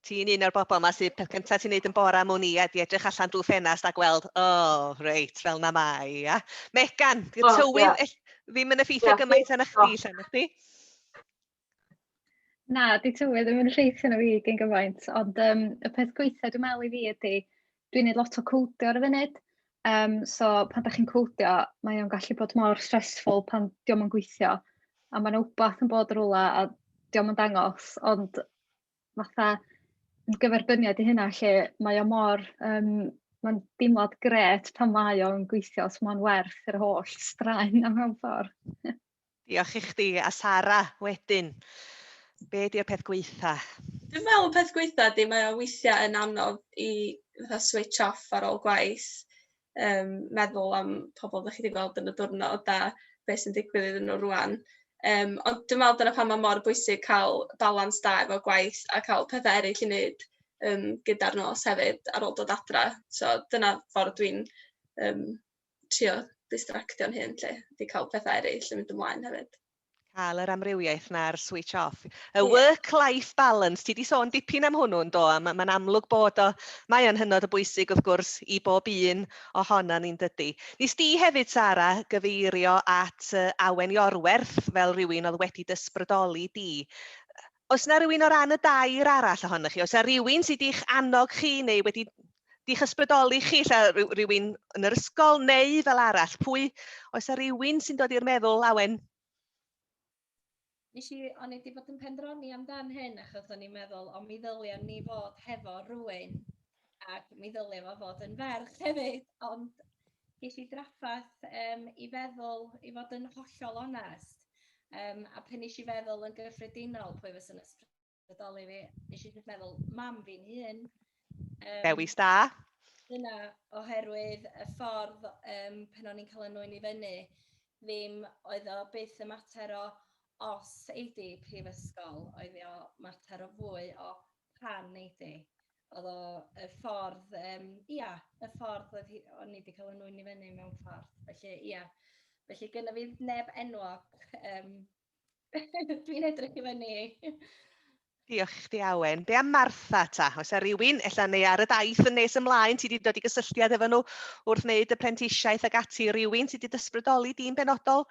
Ti'n un o'r bobl yma sydd peth cyntaf ti'n neud yn bora mwn i a di edrych allan drwy ffenast a gweld, o, oh, reit, fel na mai, ia. Megan, y tywydd well, yeah. ddim yn effeithio yeah, gymaint arna chdi, yeah. chdi? Na, 'di tywydd ddim yn llwytho arno fi gin gymaint, ond yym y peth gweitha dwi me'wl i fi ydi dwi'n neud lot o cowdio ar y funud, yym so pan 'dach chi'n cowdio mae o'n gallu bod mor stressful pan 'di o'm yn gweithio a ma' 'na wbath yn bod rwla a 'di o'm yn dangos ond fatha yn gyferbyniad i hynna lle mae o mor yym ma'n deimlad grêt pan mae o'n gweithio so ma'n werth yr holl straen 'na mewn ffor. Diolch i chdi a Sara wedyn. Be di'r peth gweitha? Dwi'n meddwl y peth gweitha di mae o weithiau yn anodd i fatha switch off ar ôl gwaith um, meddwl am pobl ddech chi wedi gweld yn y diwrnod a beth sy'n digwydd iddyn nhw rwan. Um, ond dwi'n meddwl dyna pan mae mor bwysig cael balans da efo gwaith a cael pethau eraill i wneud um, gyda'r nos hefyd ar ôl dod adra. So dyna ffordd dwi'n um, trio distractio'n hun 'lly, 'di cael pethau eraill yn mynd ymlaen hefyd. Cael yr amrywiaeth 'na'r switch off. Y work-life balance, ti 'di sôn dipyn am hwnnw yndo, a ma' ma'n amlwg bod o, mae o'n hynod o bwysig wrth gwrs i bob un ohonon ni'n dydy. Nes di hefyd Sara gyfeirio at Awen Iorwerth fel rhywun oedd wedi d'ysbrydoli di. Oes na rywun o ran y dair arall ohonoch chi? Oes na rywun sydd i'ch annog chi neu wedi di'ch ysbrydoli chi, lle rhywun yn yr ysgol neu fel arall? Pwy, oes na rywun sy'n dod i'r meddwl, Awen? Nes i, o'n i wedi bod yn pendroni amdan hyn achos o'n i'n meddwl, o mi ddylia ni fod hefo rhywun ac mi ddylia fo fod yn ferch hefyd, ond ges i draffath um, i feddwl, i fod yn hollol onest, um, a pen nes i feddwl yn gyffredinol pwy fysa'n ysbrydoli fi, nes i jyst meddwl, mam fi'n hun. Um, Dewis da. Dyna, oherwydd y ffordd um, pen o'n i'n cael yn nwy'n i fyny, ddim oedd o byth y mater o os eidi prifysgol, oedd o mater o fwy o pan eidi. Oedd o y ffordd, yym, ia, y ffordd oedd hi... o'n i 'di cael fy nŵyn i fyny mewn ffordd. Felly, ia. Felly, gynna fi neb enwog, yym, dwi'n edrych i fyny i. Diolch i chdi, Awen. Be am Martha ta? Oes 'na rywun, ella neu ar y daith yn nes ymlaen, ti wedi dod i gysylltiad efo nhw wrth wneud y prentisiaeth ac ati, rywun sydd wedi dysbrydoli di'n benodol?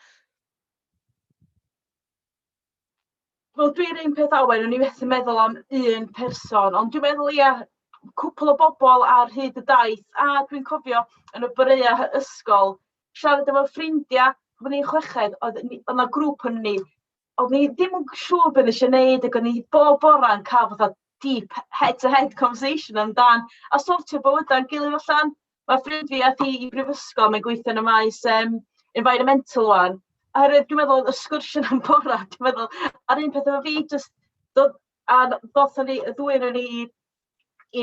Wel dwi'n un peth Owen o'n i methu meddwl am un person ond dwi'n meddwl ia cwpwl o bobl ar hyd y daith a dwi'n cofio yn y boreau hy- ysgol siarad efo ffrindia pan o'n i'n chweched oedd ni o'dd 'na grŵp o'n ni o'dd ni ddim yn siŵr be' nesh i neud ag o'n i bob bora'n ca'l fatha deep head-to-head conversation amdan a sortio bywydau'n gilydd allan. Mae ffrind fi aeth i i brifysgol, mae'n gweithio yn y maes um, environmental one. Oherwydd dwi'n meddwl, y sgwrsio am bora, dwi'n meddwl, a'r un peth efo fi, just, dod, a ddothon ni, y ddwy o'n ni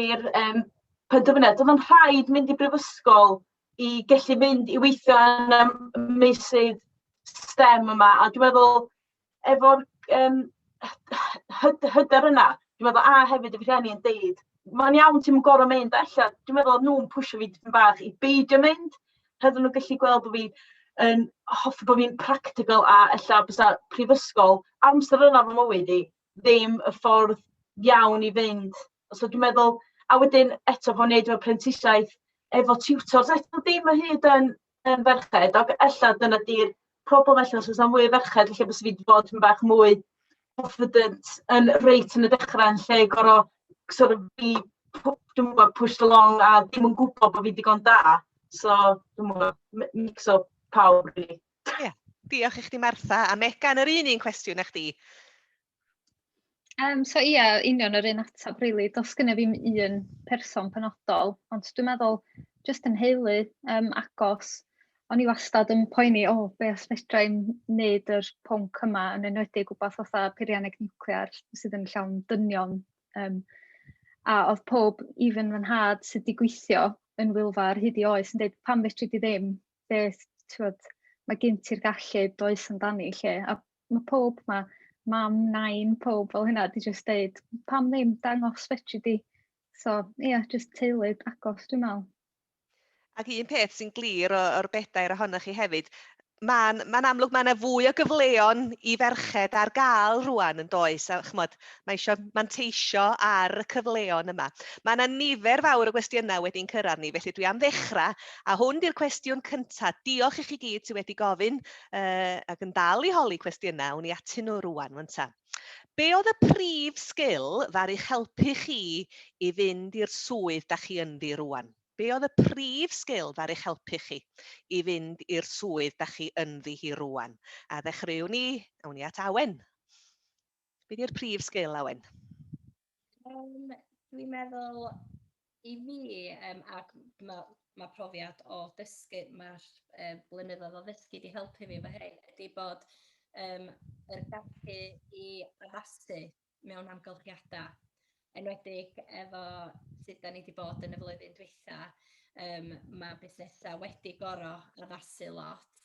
i'r um, penderfyniad, doedd o'n rhaid mynd i brifysgol i gallu mynd i weithio yn y meysydd STEM yma, a dwi'n meddwl, efo'r yym hyder hyder yna. Dwi'n meddwl, a hefyd y rhieni yn deud, mae'n iawn, ti'm yn gorfod mynd. A ella, dwi'n meddwl oedd nhw'n pwsio fi dipyn bach i beidio mynd. Oedden nhw'n gallu gweld bod fi yn hoffi bod fi'n practical a ella bysa prifysgol, amser yna fy mywyd i, ddim y ffordd iawn i fynd So dwi'n meddwl... a wedyn eto bod ni'n wneud y prentisiaeth efo tiwtors eto ddim o hyd yn yn ferched, ac ella dyna 'di'r problem ella os oes 'na mwy o ferched ella bysa fi 'di bod yn bach mwy confident yn reit yn y dechrau yn lle gorfod sort of fi pw- dwi'm yn gwybod pushed along a ddim yn gwybod bod fi'n digon da. So dwi'm yn gwybod, mi- mix o pawb rili. Diolch i chdi Martha a Megan yr un un cwestiwn a chdi. Um, so ia, union yr un ateb, really. Does gyda fi'n un person penodol, ond dwi'n meddwl, jyst yn heulu um, agos, o'n i wastad yn poeni, o, oh, be os fedra i'n neud yr pwnc yma, yn enwedig gwybod fatha peirianneg nuclear sydd yn llawn dynion. Um, a oedd pob, even fy nhad sydd wedi gweithio yn Wilfa ar hyd i oes, yn dweud, pam fedri di ddim, beth, ti'n mae gen ti'r gallu does amdani lle, a Mae pob, mae mam, nain, pob fel hynna, di jyst dweud, pam ddim dangos fedri di? So, ie, yeah, jyst teulu agos, dwi'n meddwl. Ac un peth sy'n glir o'r bedair ohonoch chi hefyd, mae'n ma amlwg mae yna fwy o gyfleon i ferched ar gael rwan yn does, a chymod, mae eisiau manteisio ar y cyfleon yma. Mae yna nifer fawr o gwestiynau wedi'n cyrraedd ni, felly dwi am ddechrau, a hwn di'r cwestiwn cyntaf. Diolch i chi gyd sydd wedi gofyn, uh, ac yn dal i holi cwestiynau, wn i atyn nhw rwan, wan ta. Be oedd y prif sgil ddaru helpu chi i fynd i'r swydd da chi ynddi rwan? Be oedd y prif sgil ddaru helpu chi i fynd i'r swydd da chi ynddi hi rwan? A ddechreuwn ni, awn ni at Awen. Be di'r prif sgil, Awen? Um, dwi'n meddwl i fi, um, ac mae ma profiad o dysgu, mae'r um, blynyddoedd o ddysgu wedi helpu fi efo hyn, ydy bod um, yr gallu i addasu mewn amgylchiadau, enwedig efo sut da ni wedi bod yn y flwyddyn dwytha, um, mae busnesau wedi gorau addasu lot,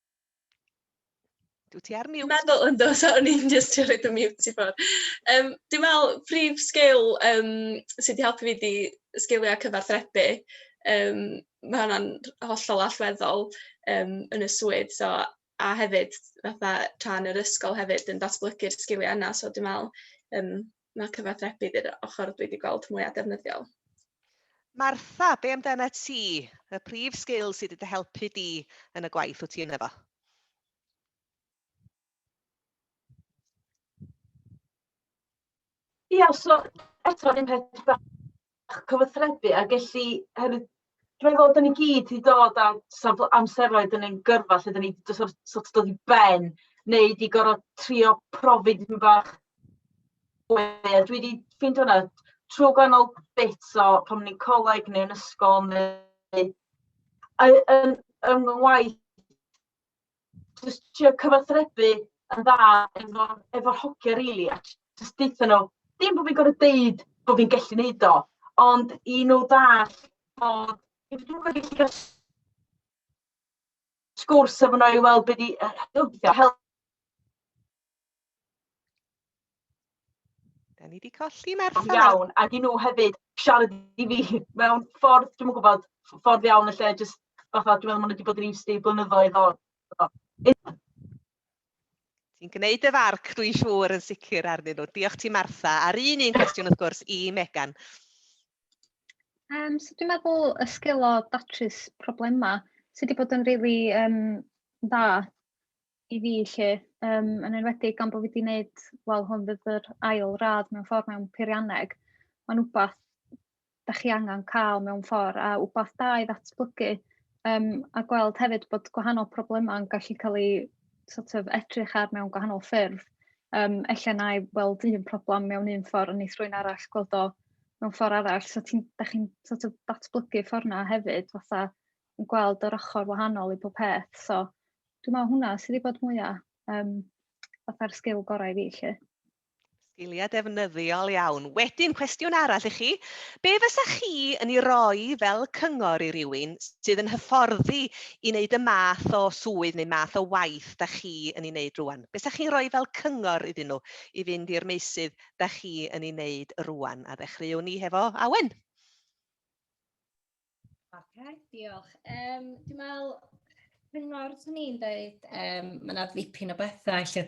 Dwi ti ar mute. Dwi'n meddwl yn dos, o'n i'n just trio rhaid y mute i ffwrdd. Um, dwi'n meddwl prif sgil um, sydd wedi helpu fi di sgiliau cyfarthrebu. Um, mae hwnna'n hollol allweddol um, yn y swydd. So, a hefyd, fatha, tra'n yr ysgol hefyd yn datblygu'r sgiliau yna. So, dwi'n meddwl, um, ma' cyfathrebu di'r ochor dwi 'di gweld mwya defnyddiol. Martha, be amdanat ti? Y prif sgil sydd 'di dy helpu di yn y gwaith wyt ti ynddo fo? Ia so eto yr un peth cyfathrebu a gallu hefyd rhoi fod yn i gyd i dod â safle amseroedd yn ein gyrfa lle 'da ni jyst sort sort of dod i ben neu 'di gor'o' trio profi dipyn bach we a dwi 'di ffeindio hwnna trw gwahanol bits o pan o'n i'n coleg neu yn ysgol neu yy yn yn fy ngwaith jyst trio cyfathrebu yn dda efo efo'r hogia rili a j- jyst deutha nhw dim bo' fi'n gor'o' deud bo' fi'n gellu neud o ond i nhw ddall' bod i fod yn gallu ga'l s- sgwrs efo nhw i weld be' 'di yy helpu Da ni wedi colli Merthyr. Ond iawn, ac i nhw hefyd siarad i fi mewn ffordd, dwi'n gwybod, ffordd iawn y lle, jyst fatha, dwi'n meddwl maen nhw wedi bod yn used i blynyddoedd o. Ti'n gwneud y farc, dwi'n siŵr, yn sicr arnyn nhw. Diolch ti, Martha. A'r un un cwestiwn, wrth gwrs, i Megan. Um, so dwi'n meddwl y sgil o datrys problemau sydd wedi bod yn rili really, um, dda i fi 'lly yym yn enwedig gan bo' fi 'di neud wel hwn fydd yr ail radd mewn ffor mewn peirianneg ma'n wbath 'dach chi angan ca'l mewn ffor a wbath da i ddatblygu yym a gweld hefyd bod gwahanol problema'n gallu ca'l 'u sort of edrych ar mewn gwahanol ffyrdd yym ella 'nai weld un problem mewn un ffor a neith rywun arall gweld o mewn ffor arall so ti'n 'dach chi'n sort of datblygu ffor 'na hefyd fatha yn gweld yr ochr wahanol i bob peth so dwi'n meddwl hwnna sydd wedi bod mwya um, fatha'r sgil gorau i fi lle. Sgiliau defnyddiol iawn. Wedyn, cwestiwn arall i chi. Be fysa chi yn ei roi fel cyngor i rywun sydd yn hyfforddi i wneud y math o swydd neu math o waith da chi yn ei wneud rwan? Be fysa chi'n rhoi fel cyngor iddyn nhw i fynd i'r meysydd da chi yn ei wneud rwan? A ddechreuwn ni hefo Awen. Ok, diolch. Um, dwi'n meddwl, cyngor swn i'n dweud, um, mae yna ddipyn o bethau lle...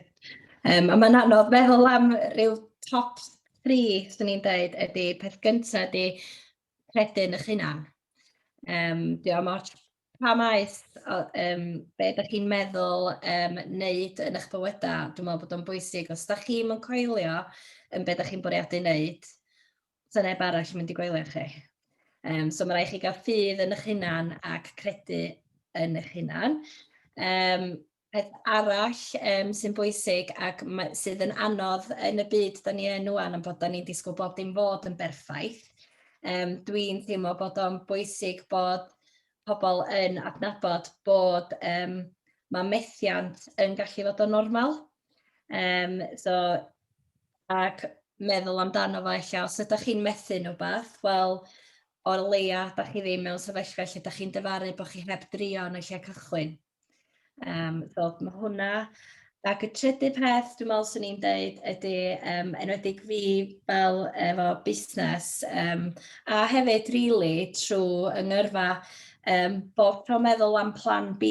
Um, a mae'n anodd meddwl am rhyw top 3, swn i'n dweud, ydy peth gyntaf ydy credu yn eich hunan. Um, dwi'n meddwl, pa maes, um, be ydych chi'n meddwl um, wneud yn eich bywydau, dwi'n meddwl bod o'n bwysig. Os ydych chi'n coelio yn be ydych chi'n bwriadu wneud, Sa neb arall yn mynd i gwely efo chi. Yym so ma' raid i chi gael ffydd yn eich hunan ac credu yn eich hunan. Yym peth arall yym sy'n bwysig ac ma' sydd yn anodd yn y byd 'dan ni yn ŵan am bod 'dan ni'n disgwyl bob dim fod yn berffaith yym dwi'n teimlo bod o'n bwysig bod pobl yn adnabod bod yym ma' methiant yn gallu fod yn normal. Yym so ac meddwl amdano fo ella os ydych chi'n methu neu beth, wel o leia da chi ddim mewn sefyllfa lle da chi'n dyfaru bod chi heb drio yn y lle cychwyn. Um, so mae hwnna. Ac y trydydd peth dwi'n meddwl swn i'n deud ydy, um, enwedig fi fel efo busnes, um, a hefyd rili really, trwy yng ngyrfa, um, bod tro meddwl am plan B,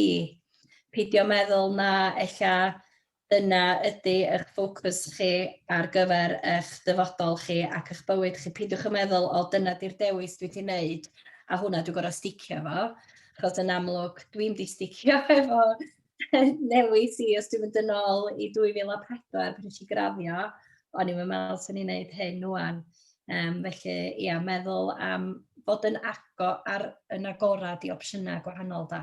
peidio meddwl na ella dyna ydy eich ffocws chi ar gyfer eich dyfodol chi ac eich bywyd chi. Peidiwch â meddwl, o dyna di'r dewis dwi 'di wneud a hwnna dwi'n gorfod sticio efo, achos yn amlwg dwi'm 'di sticio efo newis i, os dwi'n mynd yn ôl i 2004 pan wnes i graddio, o'n i'm yn meddwl 'swn i'n wneud hyn ŵan. Yym felly ia, meddwl am fod yn ago- ar yn agored i opsiynau gwahanol de.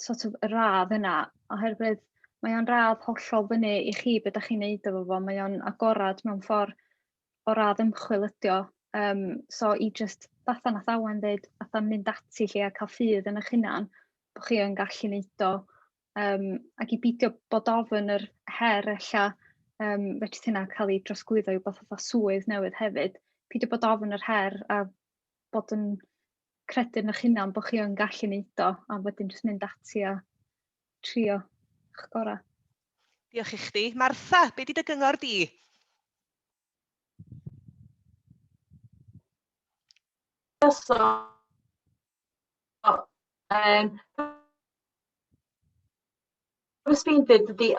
sort of y radd yna oherwydd mae o'n radd hollol fyny i chi beth ydych chi'n neud efo fo, mae o'n agorad mewn ffordd o radd ymchwil ydi o. Um, so i just fatha nath awen ddeud, fatha mynd ati lle a cael ffydd yn eich hunan, bod chi yn gallu neud o, um, ac i beidio bod ofyn yr her ella, um, fedrith hynna cael ei drosglwyddo i wbeth fatha swydd newydd hefyd, peidio bod ofyn yr her a bod yn credu yn eich hunan bod chi yn gallu wneud o a wedyn jyst mynd ati a trio eich gorau. Diolch i chdi. Martha, be di dy gyngor di? So, um, Wrth fi'n dweud ydy,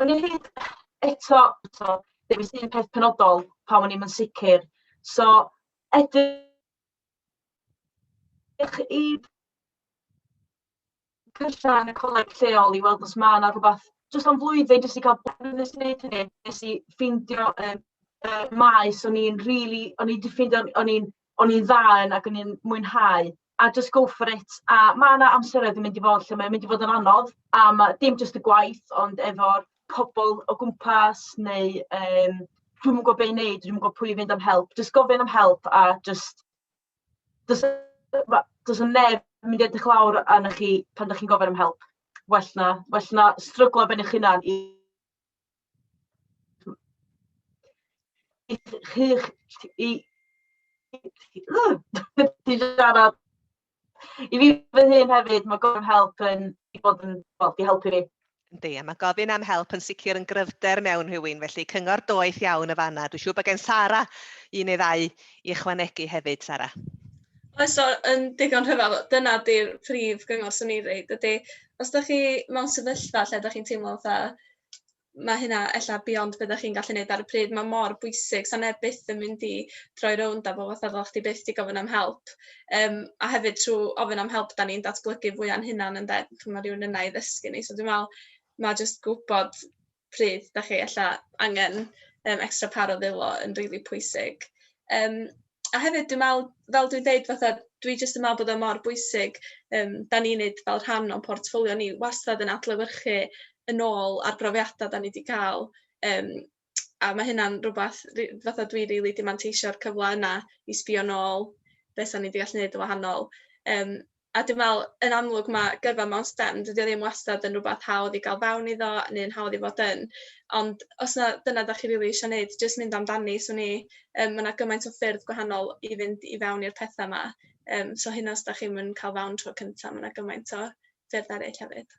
o'n i'n hyd eto, eto, dewis un peth penodol pan o'n i'n sicr. So, edrych Diolch i Cyrsa yn y coleg lleol i weld os mae yna rhywbeth jyst am flwyddyn jyst i cael blynyddes i wneud hynny. Nes i ffeindio um, uh, maes o'n i'n really, o'n i wedi ffeindio, o'n i'n o'n i'n dda yn ac o'n i'n mwynhau a just go for it. A mae yna amseroedd yn mynd i fod lle mae'n mynd i fod yn anodd a mae dim jyst y gwaith ond efo'r pobl o gwmpas neu yym dwi'm yn gwybod be i wneud, dwi'm yn gwybod pwy i fynd am help. Jyst gofyn am help a jyst does ma' does 'na neb yn mynd i edrych lawr arnoch chi pan dach chi'n gofyn am help. Well 'na well 'na stryglo ar ben eich hunan i i ch- chi'ch i i i siarad. I fi fy hun hefyd, mae gofyn am help yn i bod yn, wel, di helpu fi. Yndi, a mae gofyn am help yn sicr yn gryfder mewn rhywun, felly cyngor doeth iawn y fanna. Dwi'n siŵr bod gen Sara un neu ddau i ychwanegu hefyd, Sara. Oes o, yn digon rhyfel, dyna di'r prif gyngor sy'n ei reid, ydy, os da chi mewn sefyllfa lle da chi'n teimlo fatha, mae hynna ella beyond be dach chi'n gallu neud ar y pryd mae mor bwysig sa neb byth yn mynd i droi rownd a bo' fatha fel chdi byth di gofyn am help yym a hefyd trw ofyn am help da ni'n datblygu fwy a'n hunan ynde ch'mo' ma' rywun yna i ddysgu ni so dwi me'wl ma' jyst gwbod pryd dach chi ella angen yym extra par o ddwylo yn rili pwysig yym a hefyd dwi'n meddwl, fel dwi'n deud, fatha, dwi jyst yn meddwl bod o mor bwysig, um, da ni'n neud fel rhan o'n portffolio ni, wastad yn adlewyrchu yn ôl ar brofiadau da ni wedi cael, um, a mae hynna'n rhywbeth, fatha dwi rili really dimanteisio cyfle yna i sbio nôl beth da ni wedi gallu neud yn wahanol. Um, A dwi'n meddwl, yn amlwg, mae gyrfa mewn STEM, dydy o ddim wastad yn rywbeth hawdd i gael fewn iddo neu'n hawdd i fod yn. Ond os 'na dyna dach chi rili isio wneud, jyst mynd amdani. 'swn i... yym ma' 'na gymaint o ffyrdd gwahanol i fynd i fewn i'r petha 'ma, yym so hyd yn oed os dach chi'm yn cael fewn tro cynta, ma' 'na gymaint o ffyrdd eraill hefyd.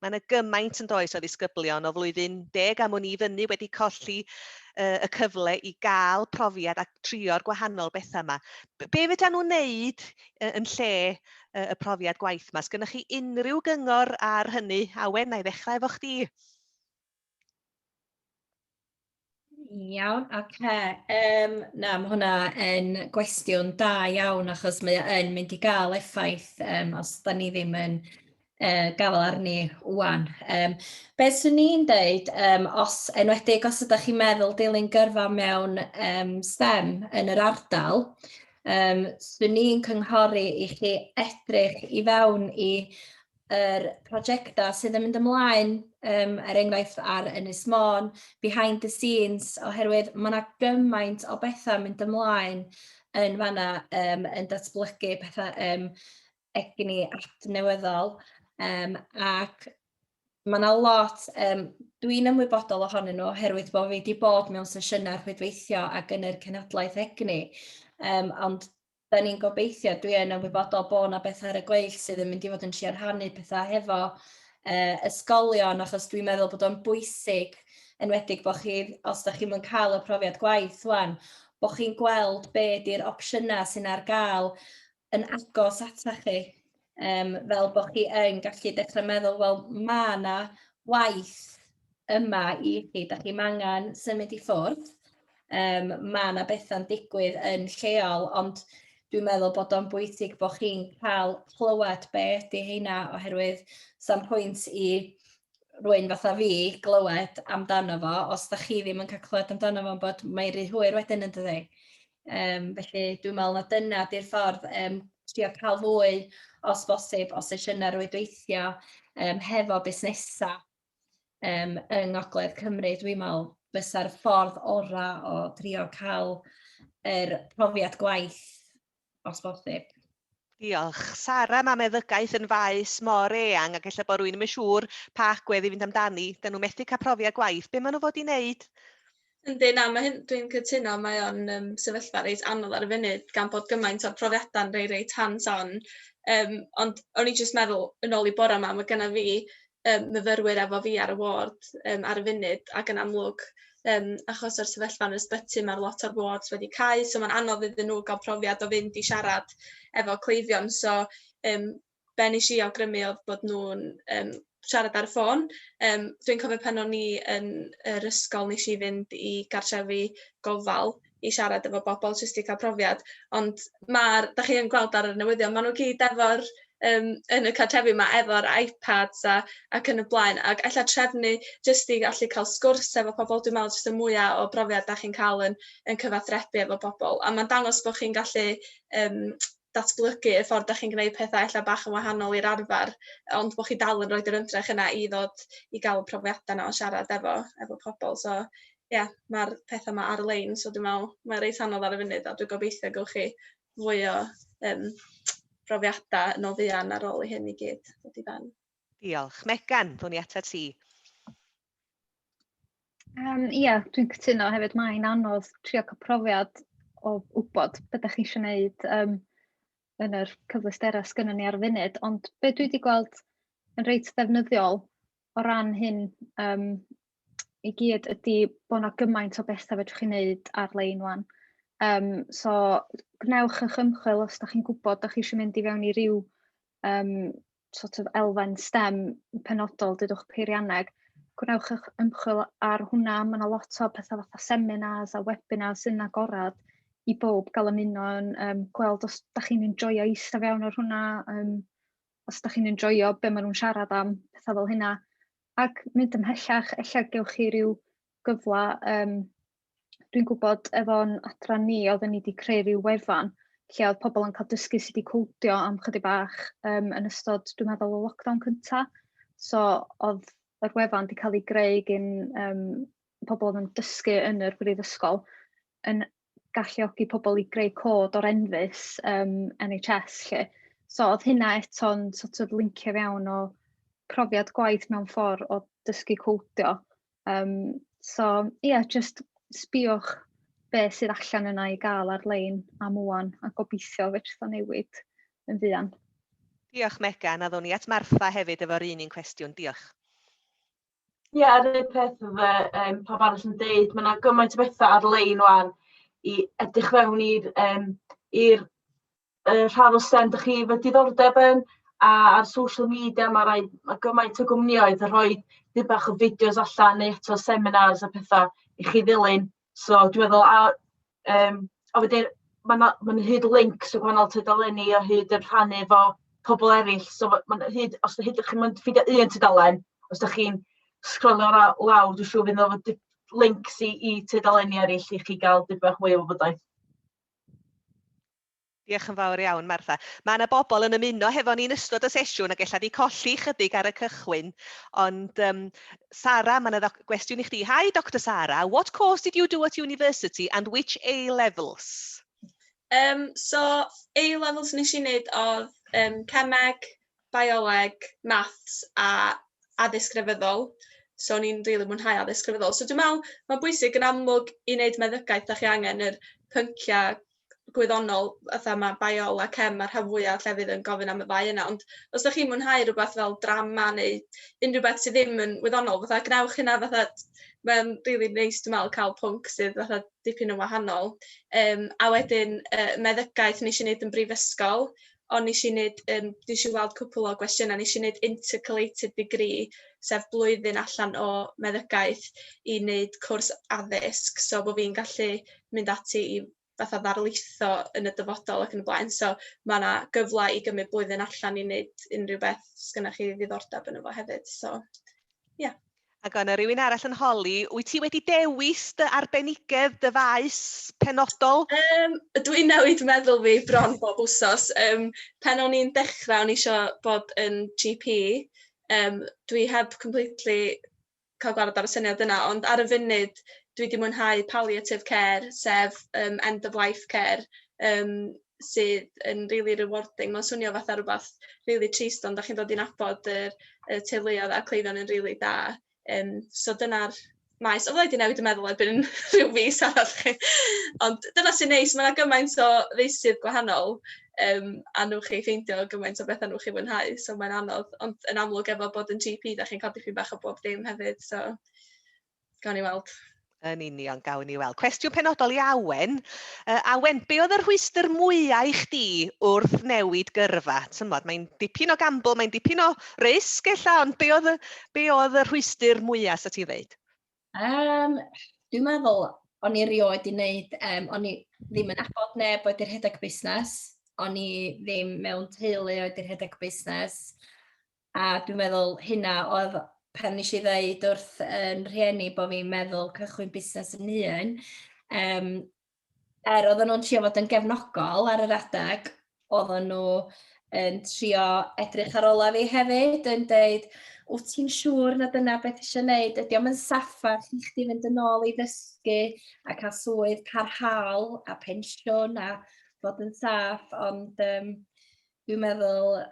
Mae yna gymaint yn does o ddisgyblion o flwyddyn deg am wn i fyny wedi colli uh, y cyfle i gael profiad a trio'r gwahanol bethau yma. Be fydda nhw'n neud uh, yn lle uh, y profiad gwaith yma? Sgynnwch chi unrhyw gyngor ar hynny? Awen, na i ddechrau efo chdi. Iawn, oce. Yym na, ma' hwnna yn gwestiwn da iawn achos mae o yn mynd i gael effaith yym os 'dan ni ddim yn yy gafael arni ŵan. Yym be 'swn i'n deud yym os enwedig os ydach chi'n meddwl dilyn gyrfa mewn yym STEM yn yr ardal yym 'swn i'n cynghori i chi edrych i fewn i yr prosiectau sydd yn mynd ymlaen, um, er enghraifft ar Ynys Môn, behind the scenes, oherwydd mae yna gymaint o bethau mynd ymlaen yn fanna, um, yn datblygu pethau um, egni adnewyddol, um, ac mae yna lot, um, dwi'n ymwybodol ohonyn nhw oherwydd bod fi wedi bod mewn sesiynau rhwydweithio ac yn yr cenhadlaeth egni, um, ond da ni'n gobeithio, dwi yn ymwybodol bod yna bethau ar y gweill sydd yn mynd i fod yn trio rhannu pethau hefo uh, ysgolion, achos dwi'n meddwl bod o'n bwysig, enwedig bod chi, os da chi'n mynd cael y profiad gwaith wan, bod chi'n gweld be di'r opsiynau sy'n ar gael yn agos ata chi. um, fel bod chi yn gallu dechrau meddwl, wel, mae yna waith yma i chi, da chi'n angen symud i ffwrdd, um, mae yna bethau'n digwydd yn lleol, ond dwi'n meddwl bod o'n bwysig bod chi'n cael clywed be ydy heina, oherwydd sa'n pwynt i rwy'n fatha fi glywed amdano fo, os da chi ddim yn cael clywed amdano fo, bod mae'n rhy hwyr wedyn yn dydi. Um, felly dwi'n meddwl na dyna di'r ffordd, um, trio cael fwy os bosib o sesiynau rwydweithio um, hefo busnesau um, yng Ngogledd Cymru. Dwi'n meddwl fysa'r ffordd orau o drio cael yr er profiad gwaith os bosib. Diolch. Sara, mae meddygaeth yn faes mor eang ac efallai bod rwy'n ddim yn siŵr pa agwedd i fynd amdani. Dyn nhw methu cael profiad gwaith. Be maen nhw fod i wneud? Yndi, na, mae hyn, dwi'n cytuno, mae o'n um, sefyllfa reit anodd ar y funud gan bod gymaint o'r profiadau'n rei reit hands-on. Um, ond o'n i jyst meddwl, yn ôl i bora yma, mae genna fi yym myfyrwyr efo fi ar y ward yym ar y funud ac yn amlwg yym achos o'r sefyllfa yn yr ysbyty ma' lot o'r wards wedi cau so ma'n anodd iddyn nhw ga'l profiad o fynd i siarad efo cleifion so yym be' nesh i awgrymu odd bod nhw'n yym siarad ar y ffôn yym dwi'n cofio pan o'n i yn yr ysgol nesh i fynd i gartrefi gofal i siarad efo bobl jyst i cael profiad, ond ma'r... dach chi yn gweld ar y newyddion, maen nhw i gyd efo'r yym yn y cartrefi 'ma efo'r iPads a ac yn y blaen, ac ella trefnu jyst i allu cael sgwrs efo pobl, dwi'n meddwl jyst y mwya o brofiad dach chi'n cael yn yn cyfathrebu efo pobl, a ma'n dangos bod chi'n gallu yym datblygu y ffordd dach chi'n gwneud petha ella bach yn wahanol i'r arfer, ond bod chi dal yn rhoid yr ymdrech yna i ddod i gael y profiada 'na o siarad efo efo pobl, so ia, ma'r petha 'ma ar-lein so dwi me'wl mae o reit anodd ar y funud a dwi gobeithio y gewch chi fwy o yym profiada yn o fuan ar ôl i hyn i gyd ddod i ben. Diolch. Megan, ddown ni atat ti. Um, ia, dwi'n cytuno hefyd, mae'n anodd trio cael profiad o wybod beth ydych chi eisiau gwneud um, yn yr cyfleusterau sgynnyn ni ar y funud, ond be dwi wedi gweld yn reit ddefnyddiol o ran hyn um, i gyd ydy bod 'na gymaint o betha fedrwch chi neud ar-lein ŵan yym so gwnewch 'ych ymchwil os 'dach chi'n gwbod 'dach chi isio mynd i fewn i ryw yym sort of elfen stem penodol dudwch peirianneg gwnewch 'ych ymchwil ar hwnna ma' 'na lot o petha' fatha seminars a webinars sy'n agorad i bowb ga'l ymuno yn yym gweld os 'dach chi'n enjoio ista fewn ar hwnna yym os dach chi'n enjoio be maen nhw'n siarad am, pethau fel hynna. Ac mynd ymhellach, ella gewch chi rhyw gyfle, um, dwi'n gwybod efo'n adran ni, oedden ni wedi creu rhyw wefan lle oedd pobl yn cael dysgu sydd wedi cwdio am chydig bach um, yn ystod, dwi'n meddwl, y lockdown cyntaf. So, oedd yr wefan wedi cael ei greu gyn um, pobl oedd yn dysgu yn yr brifysgol yn galluogi pobl i greu cod o'r enfys um, NHS lle. So oedd hynna eto'n sort of lincio fewn o profiad gwaith mewn ffordd o dysgu codio. Um, so ie, yeah, just sbiwch be sydd allan yna i gael ar-lein am wwan a gobeithio fedrith o newid yn fuan. Diolch Megan, a ddwn i at Martha hefyd efo'r un un cwestiwn. Diolch. Ie, yr un peth efo yym pawb arall yn deud, ma' 'na gymaint o betha ar-lein ŵan i edrych fewn i'r yym i'r yy rhan o STEM dach chi efo diddordeb yn, a a'r social media ma' raid ma' gymaint o gwmnioedd yn rhoi dipyn bach o fideos allan neu eto seminars a petha i chi ddilyn. So dwi'n meddwl a yym a wedyn ma' 'na ma' 'na hyd links y gwahanol tudaleni o hyd yn rhannu efo pobl eraill. So ma' ma' 'na hyd os hyd dach chi'm yn ffeindio un tudalen, os dach chi'n sgrolio ra- lawr dwi'n siŵr fydd 'na fo- di- links i i tudaleni eraill i chi gael dipyn bach mwy o wybodaeth. Diolch yn fawr iawn, Martha. Mae yna bobl yn ymuno hefo ni'n ystod y sesiwn ac ella di colli chydig ar y cychwyn. Ond, um, Sara, mae yna gwestiwn i chdi. Hi, Dr Sara, what course did you do at university and which A-levels? Um, so, A-levels nes i wneud oedd um, cemeg, bioleg, maths a addysg grefyddol. So, ni'n rili mwynhau addysg grefyddol. So, dwi'n meddwl, mae'n bwysig yn amlwg i wneud meddygaeth, da chi angen yr pynciau gwyddonol, fatha mae biola, cem, mae'r rhan fwyaf o llefydd yn gofyn am y ddau yna. Ond os ydych chi'n mwynhau rhywbeth fel drama neu unrhyw beth sydd ddim yn wyddonol, fatha gwnewch hynna fatha... Mae'n rili really neis dwi'n meddwl cael pwnc sydd fatha dipyn yn wahanol. Um, a wedyn uh, meddygaeth nes i wneud yn brifysgol, ond nes i neud yym nes i weld cwpwl o gwestiyna nes i neud intercalated degree sef blwyddyn allan o meddygaeth i neud cwrs addysg so bo' fi'n gallu mynd ati i fatha ddarlitho yn y dyfodol ac yn y blaen so ma' 'na gyfla i gymryd blwyddyn allan i neud unrhyw beth sgynnoch chi ddiddordab yno fo hefyd so ia. Ac oedd 'na rywun arall yn holi, wyt ti wedi dewis dy arbenigedd, dy faes penodol? Um, dwi'n newid meddwl fi bron bob wsos. Um, pen o'n i'n dechrau, o'n i eisiau bod yn GP. Um, dwi heb completely cael gwared ar y syniad yna, ond ar y funud dwi wedi mwynhau palliative care, sef um, end of life care. Um, sydd yn rili rewarding. Ma'n swnio fatha rwbath rili trist ond dach chi'n dod i nabod yr y teuluodd a'r cleifion yn rili da. Yym so dyna'r maes o wedi newid y meddwl erbyn rhyw fis arall chi. Ond dyna sy'n neis ma' 'na gymaint o feysydd gwahanol yym a newch chi ffeindio gymaint o betha newch chi fwynhau so mae'n anodd ond yn amlwg efo bod yn GP dach chi'n codi ffin bach o bob dim hefyd so Gawn ni weld. Yn union, gawn ni weld. Cwestiwn penodol i Awen. Uh, Awen, be oedd y rhwystr mwyau i chdi wrth newid gyrfa? Tymod, mae'n dipyn o gambl, mae'n dipyn o risg ella, ond be oedd, be oedd y rhwystr mwyau sa ti'n ddeud? Um, dwi'n meddwl, o'n i rioed i wneud, um, o'n i ddim yn abod neb oedd i'r rhedeg busnes, o'n i ddim mewn teulu oedd i'r rhedeg busnes, A dwi'n meddwl hynna oedd pan nes i ddeud wrth yn rhieni bod fi'n meddwl cychwyn busnes yn un, um, er oedden nhw'n trio fod yn gefnogol ar yr adeg, oedden nhw yn trio edrych ar ola fi hefyd, yn dweud, wyt ti'n siŵr na dyna beth eisiau gwneud? Ydy o'm yn saffa chi chdi fynd yn ôl i ddysgu a cael swydd parhaol a pensiwn a fod yn saff, ond um, dwi'n meddwl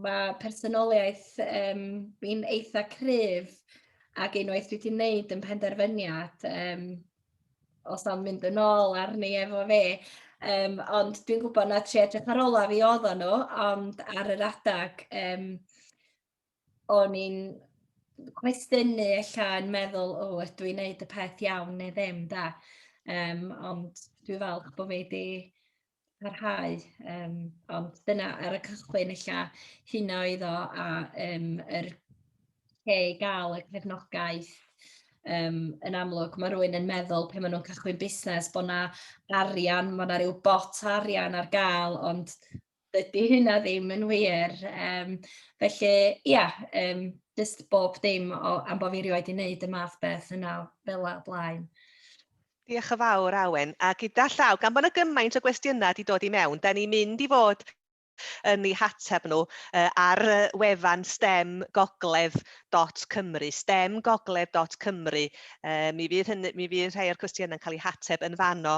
Mae personoliaeth um, fi'n eitha cryf ac unwaith dwi wedi wneud yn penderfyniad, um, os am mynd yn ôl arni efo fe, um, ond dwi'n gwybod na tri edrych ar olaf i oedd nhw, ond ar yr adag, um, o'n i'n cwestiynu ella yn meddwl, o, oh, ydw i'n gwneud y peth iawn neu ddim, da. Um, ond dwi falch bod fi wedi parhau yym ond dyna ar y cychwyn ella hynna oedd o a yym yr lle i gael y cefnogaeth yym yn amlwg ma' rywun yn meddwl pan ma' nhw'n cychwyn busnes bod 'na arian ma' 'na ryw bot arian ar gael ond dydi hynna ddim yn wir yym felly ia yym jyst bob dim o am bo' fi erioed 'di neud y math beth yna fela o blaen. Diolch yn fawr, Awen. A gyda llaw, gan bod yna gymaint o gwestiynau wedi dod i mewn, da ni'n mynd i fod yn ei hateb nhw ar wefan stemgogledd.cymru, stemgogledd.cymru. Mi fydd hynny, mi fydd rhai o'r cwestiynau yn cael eu hateb yn fanno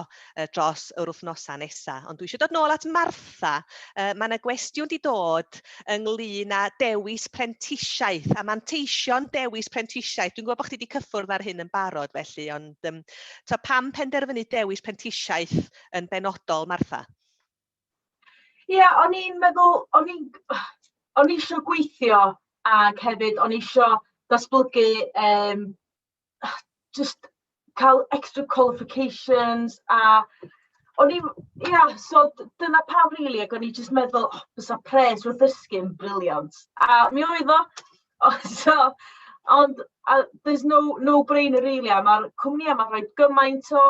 dros yr wythnosau nesaf. Ond dwi eisiau dod nôl at Martha. Mae yna gwestiwn wedi dod ynglyn â dewis prentisiaeth a manteision dewis prentisiaeth. Dwi'n gwybod bod chdi wedi cyffwrdd ar hyn yn barod felly, ond um, to pam penderfynu dewis prentisiaeth yn benodol, Martha? Ie, yeah, o'n i'n meddwl, o'n i'n... O'n i eisiau gweithio ac hefyd o'n i eisiau datblygu um, jyst cael extra qualifications a o'n i'm... ia, so dyna pam rili ac o'n i jyst meddwl "o, bysa pres o ddysgu yn briliant". A mi oedd o, o so ond a there's no no brainer rili a ma'r cwmnïau 'ma'n rhoi gymaint o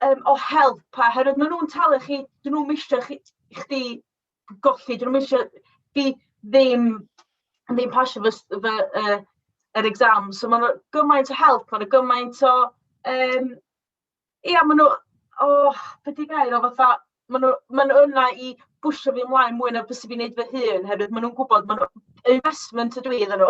yym o help oherwydd maen nhw'n talu chi, 'dyn nhw'm isio chi chdi... golli. Dwi ddim isio... fi ddim ddim pasio fy s- fy yy yr exams. So mae 'na gymaint o help, mae 'na gymaint o yym... ia maen nhw o be 'di'r gair o fatha maen nhw maen nhw yna i pwsio fi ymlaen mwy na byswn i'n wneud fy hun oherwydd maen nhw'n gwybod maen nhw... investment ydw i iddyn nhw.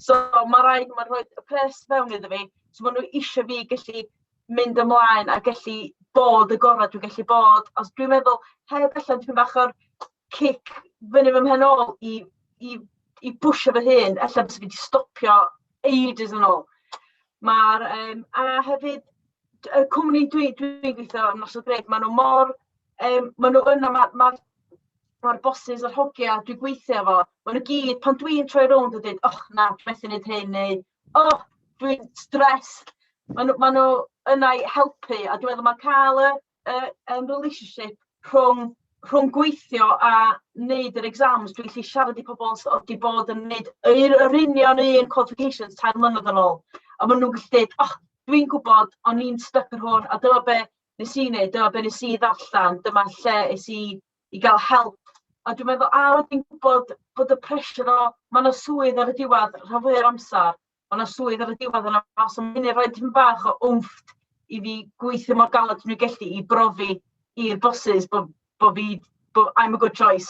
So ma' raid nhw rhoi y pres fewn iddo fi, so maen nhw isio fi gallu mynd ymlaen a gallu bod y gorau dwi'n gallu bod. Os dwi'n meddwl, heb allan dwi'n bach o'r cic fyny fy mhen ôl i, i, i bwysio fy hun, allan bys fi wedi stopio ages yn ôl. Mae'r, um, a hefyd, y cwmni dwi'n dwi, dwi gweithio yn Nos o Greg, maen nhw mor, um, maen nhw yna, mae'r ma, ma, ma bosses a'r hogia dwi'n gweithio efo, maen nhw gyd, pan dwi'n troi rownd a dweud, och na, dwi'n methu wneud hyn, neu O! Dwi'n stressed. Maen nhw maen nhw yna i helpu, a dwi'n meddwl mae cael y y yym relationship rhwng rhwng gweithio a wneud yr exams, dwi'n gallu siarad i pobl sy 'di bod yn wneud yr yr union un qualifications tair mlynedd yn ôl, a maen nhw'n gallu deud, "o, dwi'n gwybod, o'n i'n styc ar hwn, a dyma be wnes i wneud, dyma be wnes i ddarllen, dyma lle es i i gael help. A dwi'n meddwl, a wedyn gwybod bod y pressure o... ma' 'na swydd ar y diwedd rhan fwya o'r amser, ma' 'na swydd ar y diwedd yna os am munud rhoi tipyn bach o wmff i fi gweithio mor galed dwi'n gallu i brofi i'r bosses bod bod fi bod I'm a good choice.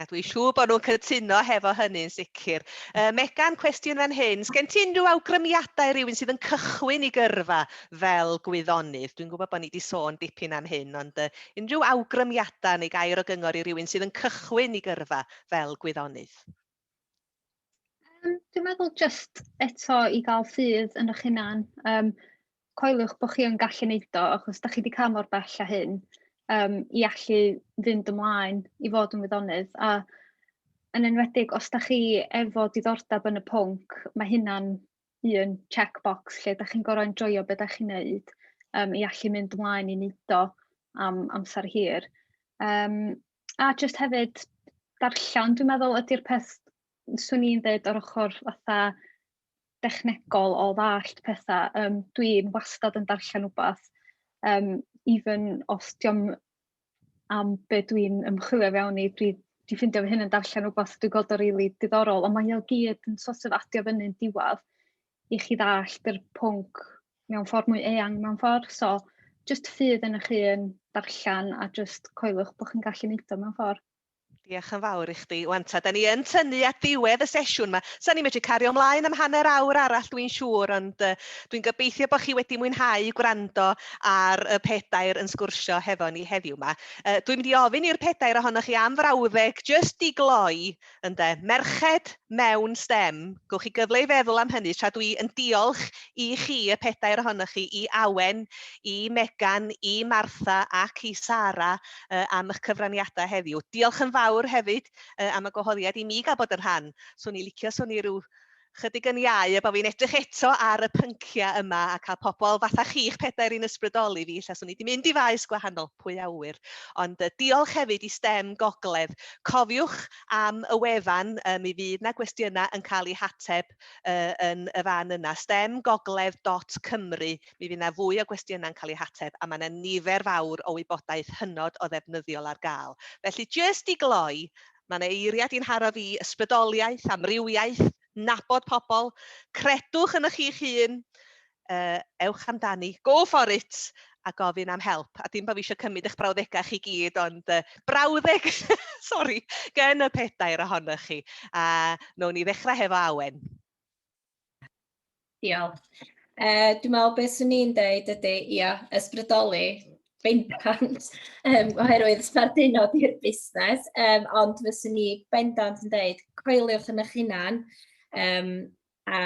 A dwi'n siŵr bod nhw'n cytuno hefo hynny'n sicr. Uh, Megan, cwestiwn fan hyn. Sgen ti unrhyw awgrymiadau rhywun sydd yn cychwyn i gyrfa fel gwyddonydd? Dwi'n gwybod bod ni wedi sôn dipyn am hyn, ond uh, unrhyw awgrymiadau neu gair o gyngor i rywun sydd yn cychwyn i gyrfa fel gwyddonydd? Yym dwi'n meddwl jyst eto i gael ffydd yn eich hunan, yym coeliwch bod chi yn gallu wneud o achos dach chi 'di cael mor bell â hyn yym i allu fynd ymlaen i fod yn wyddonydd a yn enwedig os dach chi efo diddordeb yn y pwnc mae hynna'n un checkbox lle dach chi'n gorfod enjoio be dach chi'n neud yym i allu mynd ymlaen i neud o am amser hir. Yym. a jyst hefyd darllen dwi'n meddwl ydy'r peth 'swn i'n ddeud yr ochr fatha dechnegol o ddallt petha yym dwi'n wastad yn darllen wbath yym even os 'di o'm am be' dwi'n ymchwilio fewn i dwi 'di ffindio fy hun yn darllen wbath dwi gweld o rili diddorol on' mae o gyd yn so't of adio fynny'n diwadd i chi ddallt yr pwnc mewn ffordd mwy eang mewn ffordd. So jyst ffydd yn chi yn darllen a jyst coelwch bod chi'n gallu neud o mewn ffordd. Diolch yn fawr i chdi. Wan ta, da ni yn tynnu at ddiwedd y sesiwn yma. Sa ni'n medru cario ymlaen am hanner awr arall dwi'n siŵr, ond uh, dwi'n gobeithio bod chi wedi mwynhau gwrando ar y pedair yn sgwrsio hefo ni heddiw yma. Uh, dwi'n mynd i ofyn i'r pedair ohonoch chi am frawddeg, jyst i gloi Ynde. Merched mewn stem, gewch chi gyfle i feddwl am hynny tra dwi yn diolch i chi, y pedair ohonoch chi, i Awen, i Megan, i Martha ac i Sara uh, am eich cyfraniadau heddiw. Diolch yn fawr hefyd uh, am y gwahoddiad i mi gael bod yn rhan. Swn i licio, swn i rhyw chydig yn iau a bod fi'n edrych eto ar y pynciau yma a cael pobl fatha chi'ch pedair i'n ysbrydoli fi, lle swn i wedi mynd i faes gwahanol, pwy a ŵyr. Ond uh, diolch hefyd i STEM Gogledd. Cofiwch am y wefan, uh, mi fydd na gwestiynau yn cael eu hateb uh, yn y fan yna, stemgogledd.cymru. Mi fydd na fwy o gwestiynau yn cael eu hateb a mae yna nifer fawr o wybodaeth hynod o ddefnyddiol ar gael. Felly, jyst i gloi, Mae'n eiriad i'n haro fi, ysbrydoliaeth, amrywiaeth, nabod pobl, credwch yn ych eich hun, uh, ewch amdani, go for it, a gofyn am help. A dim bod fi eisiau cymryd eich brawddegau chi gyd, ond uh, brawddeg, sori, gen y pedair ohonoch chi. A uh, nawn ni ddechrau hefo Awen. Diolch. Uh, dwi'n meddwl beth swn i'n deud ydy, ia, ysbrydoli bendant, um, oherwydd sbarduno di'r busnes, um, ond fyswn i bendant yn deud, coeliwch yn eich hunan, um, a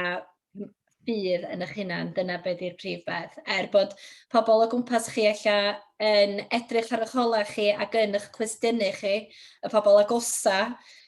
bydd yn eich hunan, dyna beth yw'r prif beth. Er bod pobl o gwmpas chi ella yn edrych ar eich holau chi ac yn eich cwestiynu chi, y pobl agosa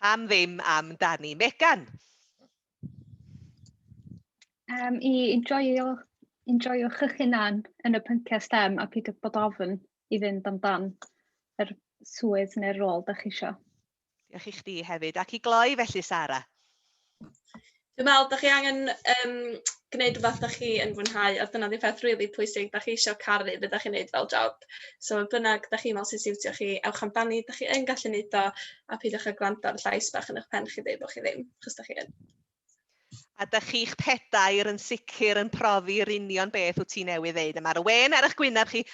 Pam ddim am Dani Megan? Um, I enjoyo, enjoyo chych hunan yn y pynciau STEM a peidio bod ofn i fynd amdan yr swydd neu'r rôl da chi eisiau. Diolch i chdi hefyd. Ac i gloi felly, Sara? Dwi'n meddwl, da chi angen um, gwneud rhywbeth da chi yn fwynhau, a dyna di peth rili really pwysig, da chi eisiau caru beth da chi'n gwneud fel job. So, bynnag, da chi'n meddwl sy'n siwtio chi, ewch amdani, da chi yn gallu gwneud o, a peidiwch â gwrando ar llais bach yn eich pen chi dweud bod chi ddim, chos da chi yn. A da chi'ch pedair yn sicr yn profi'r union beth wyt ti newydd ddeud. A mae'r wen ar eich gwyneb chi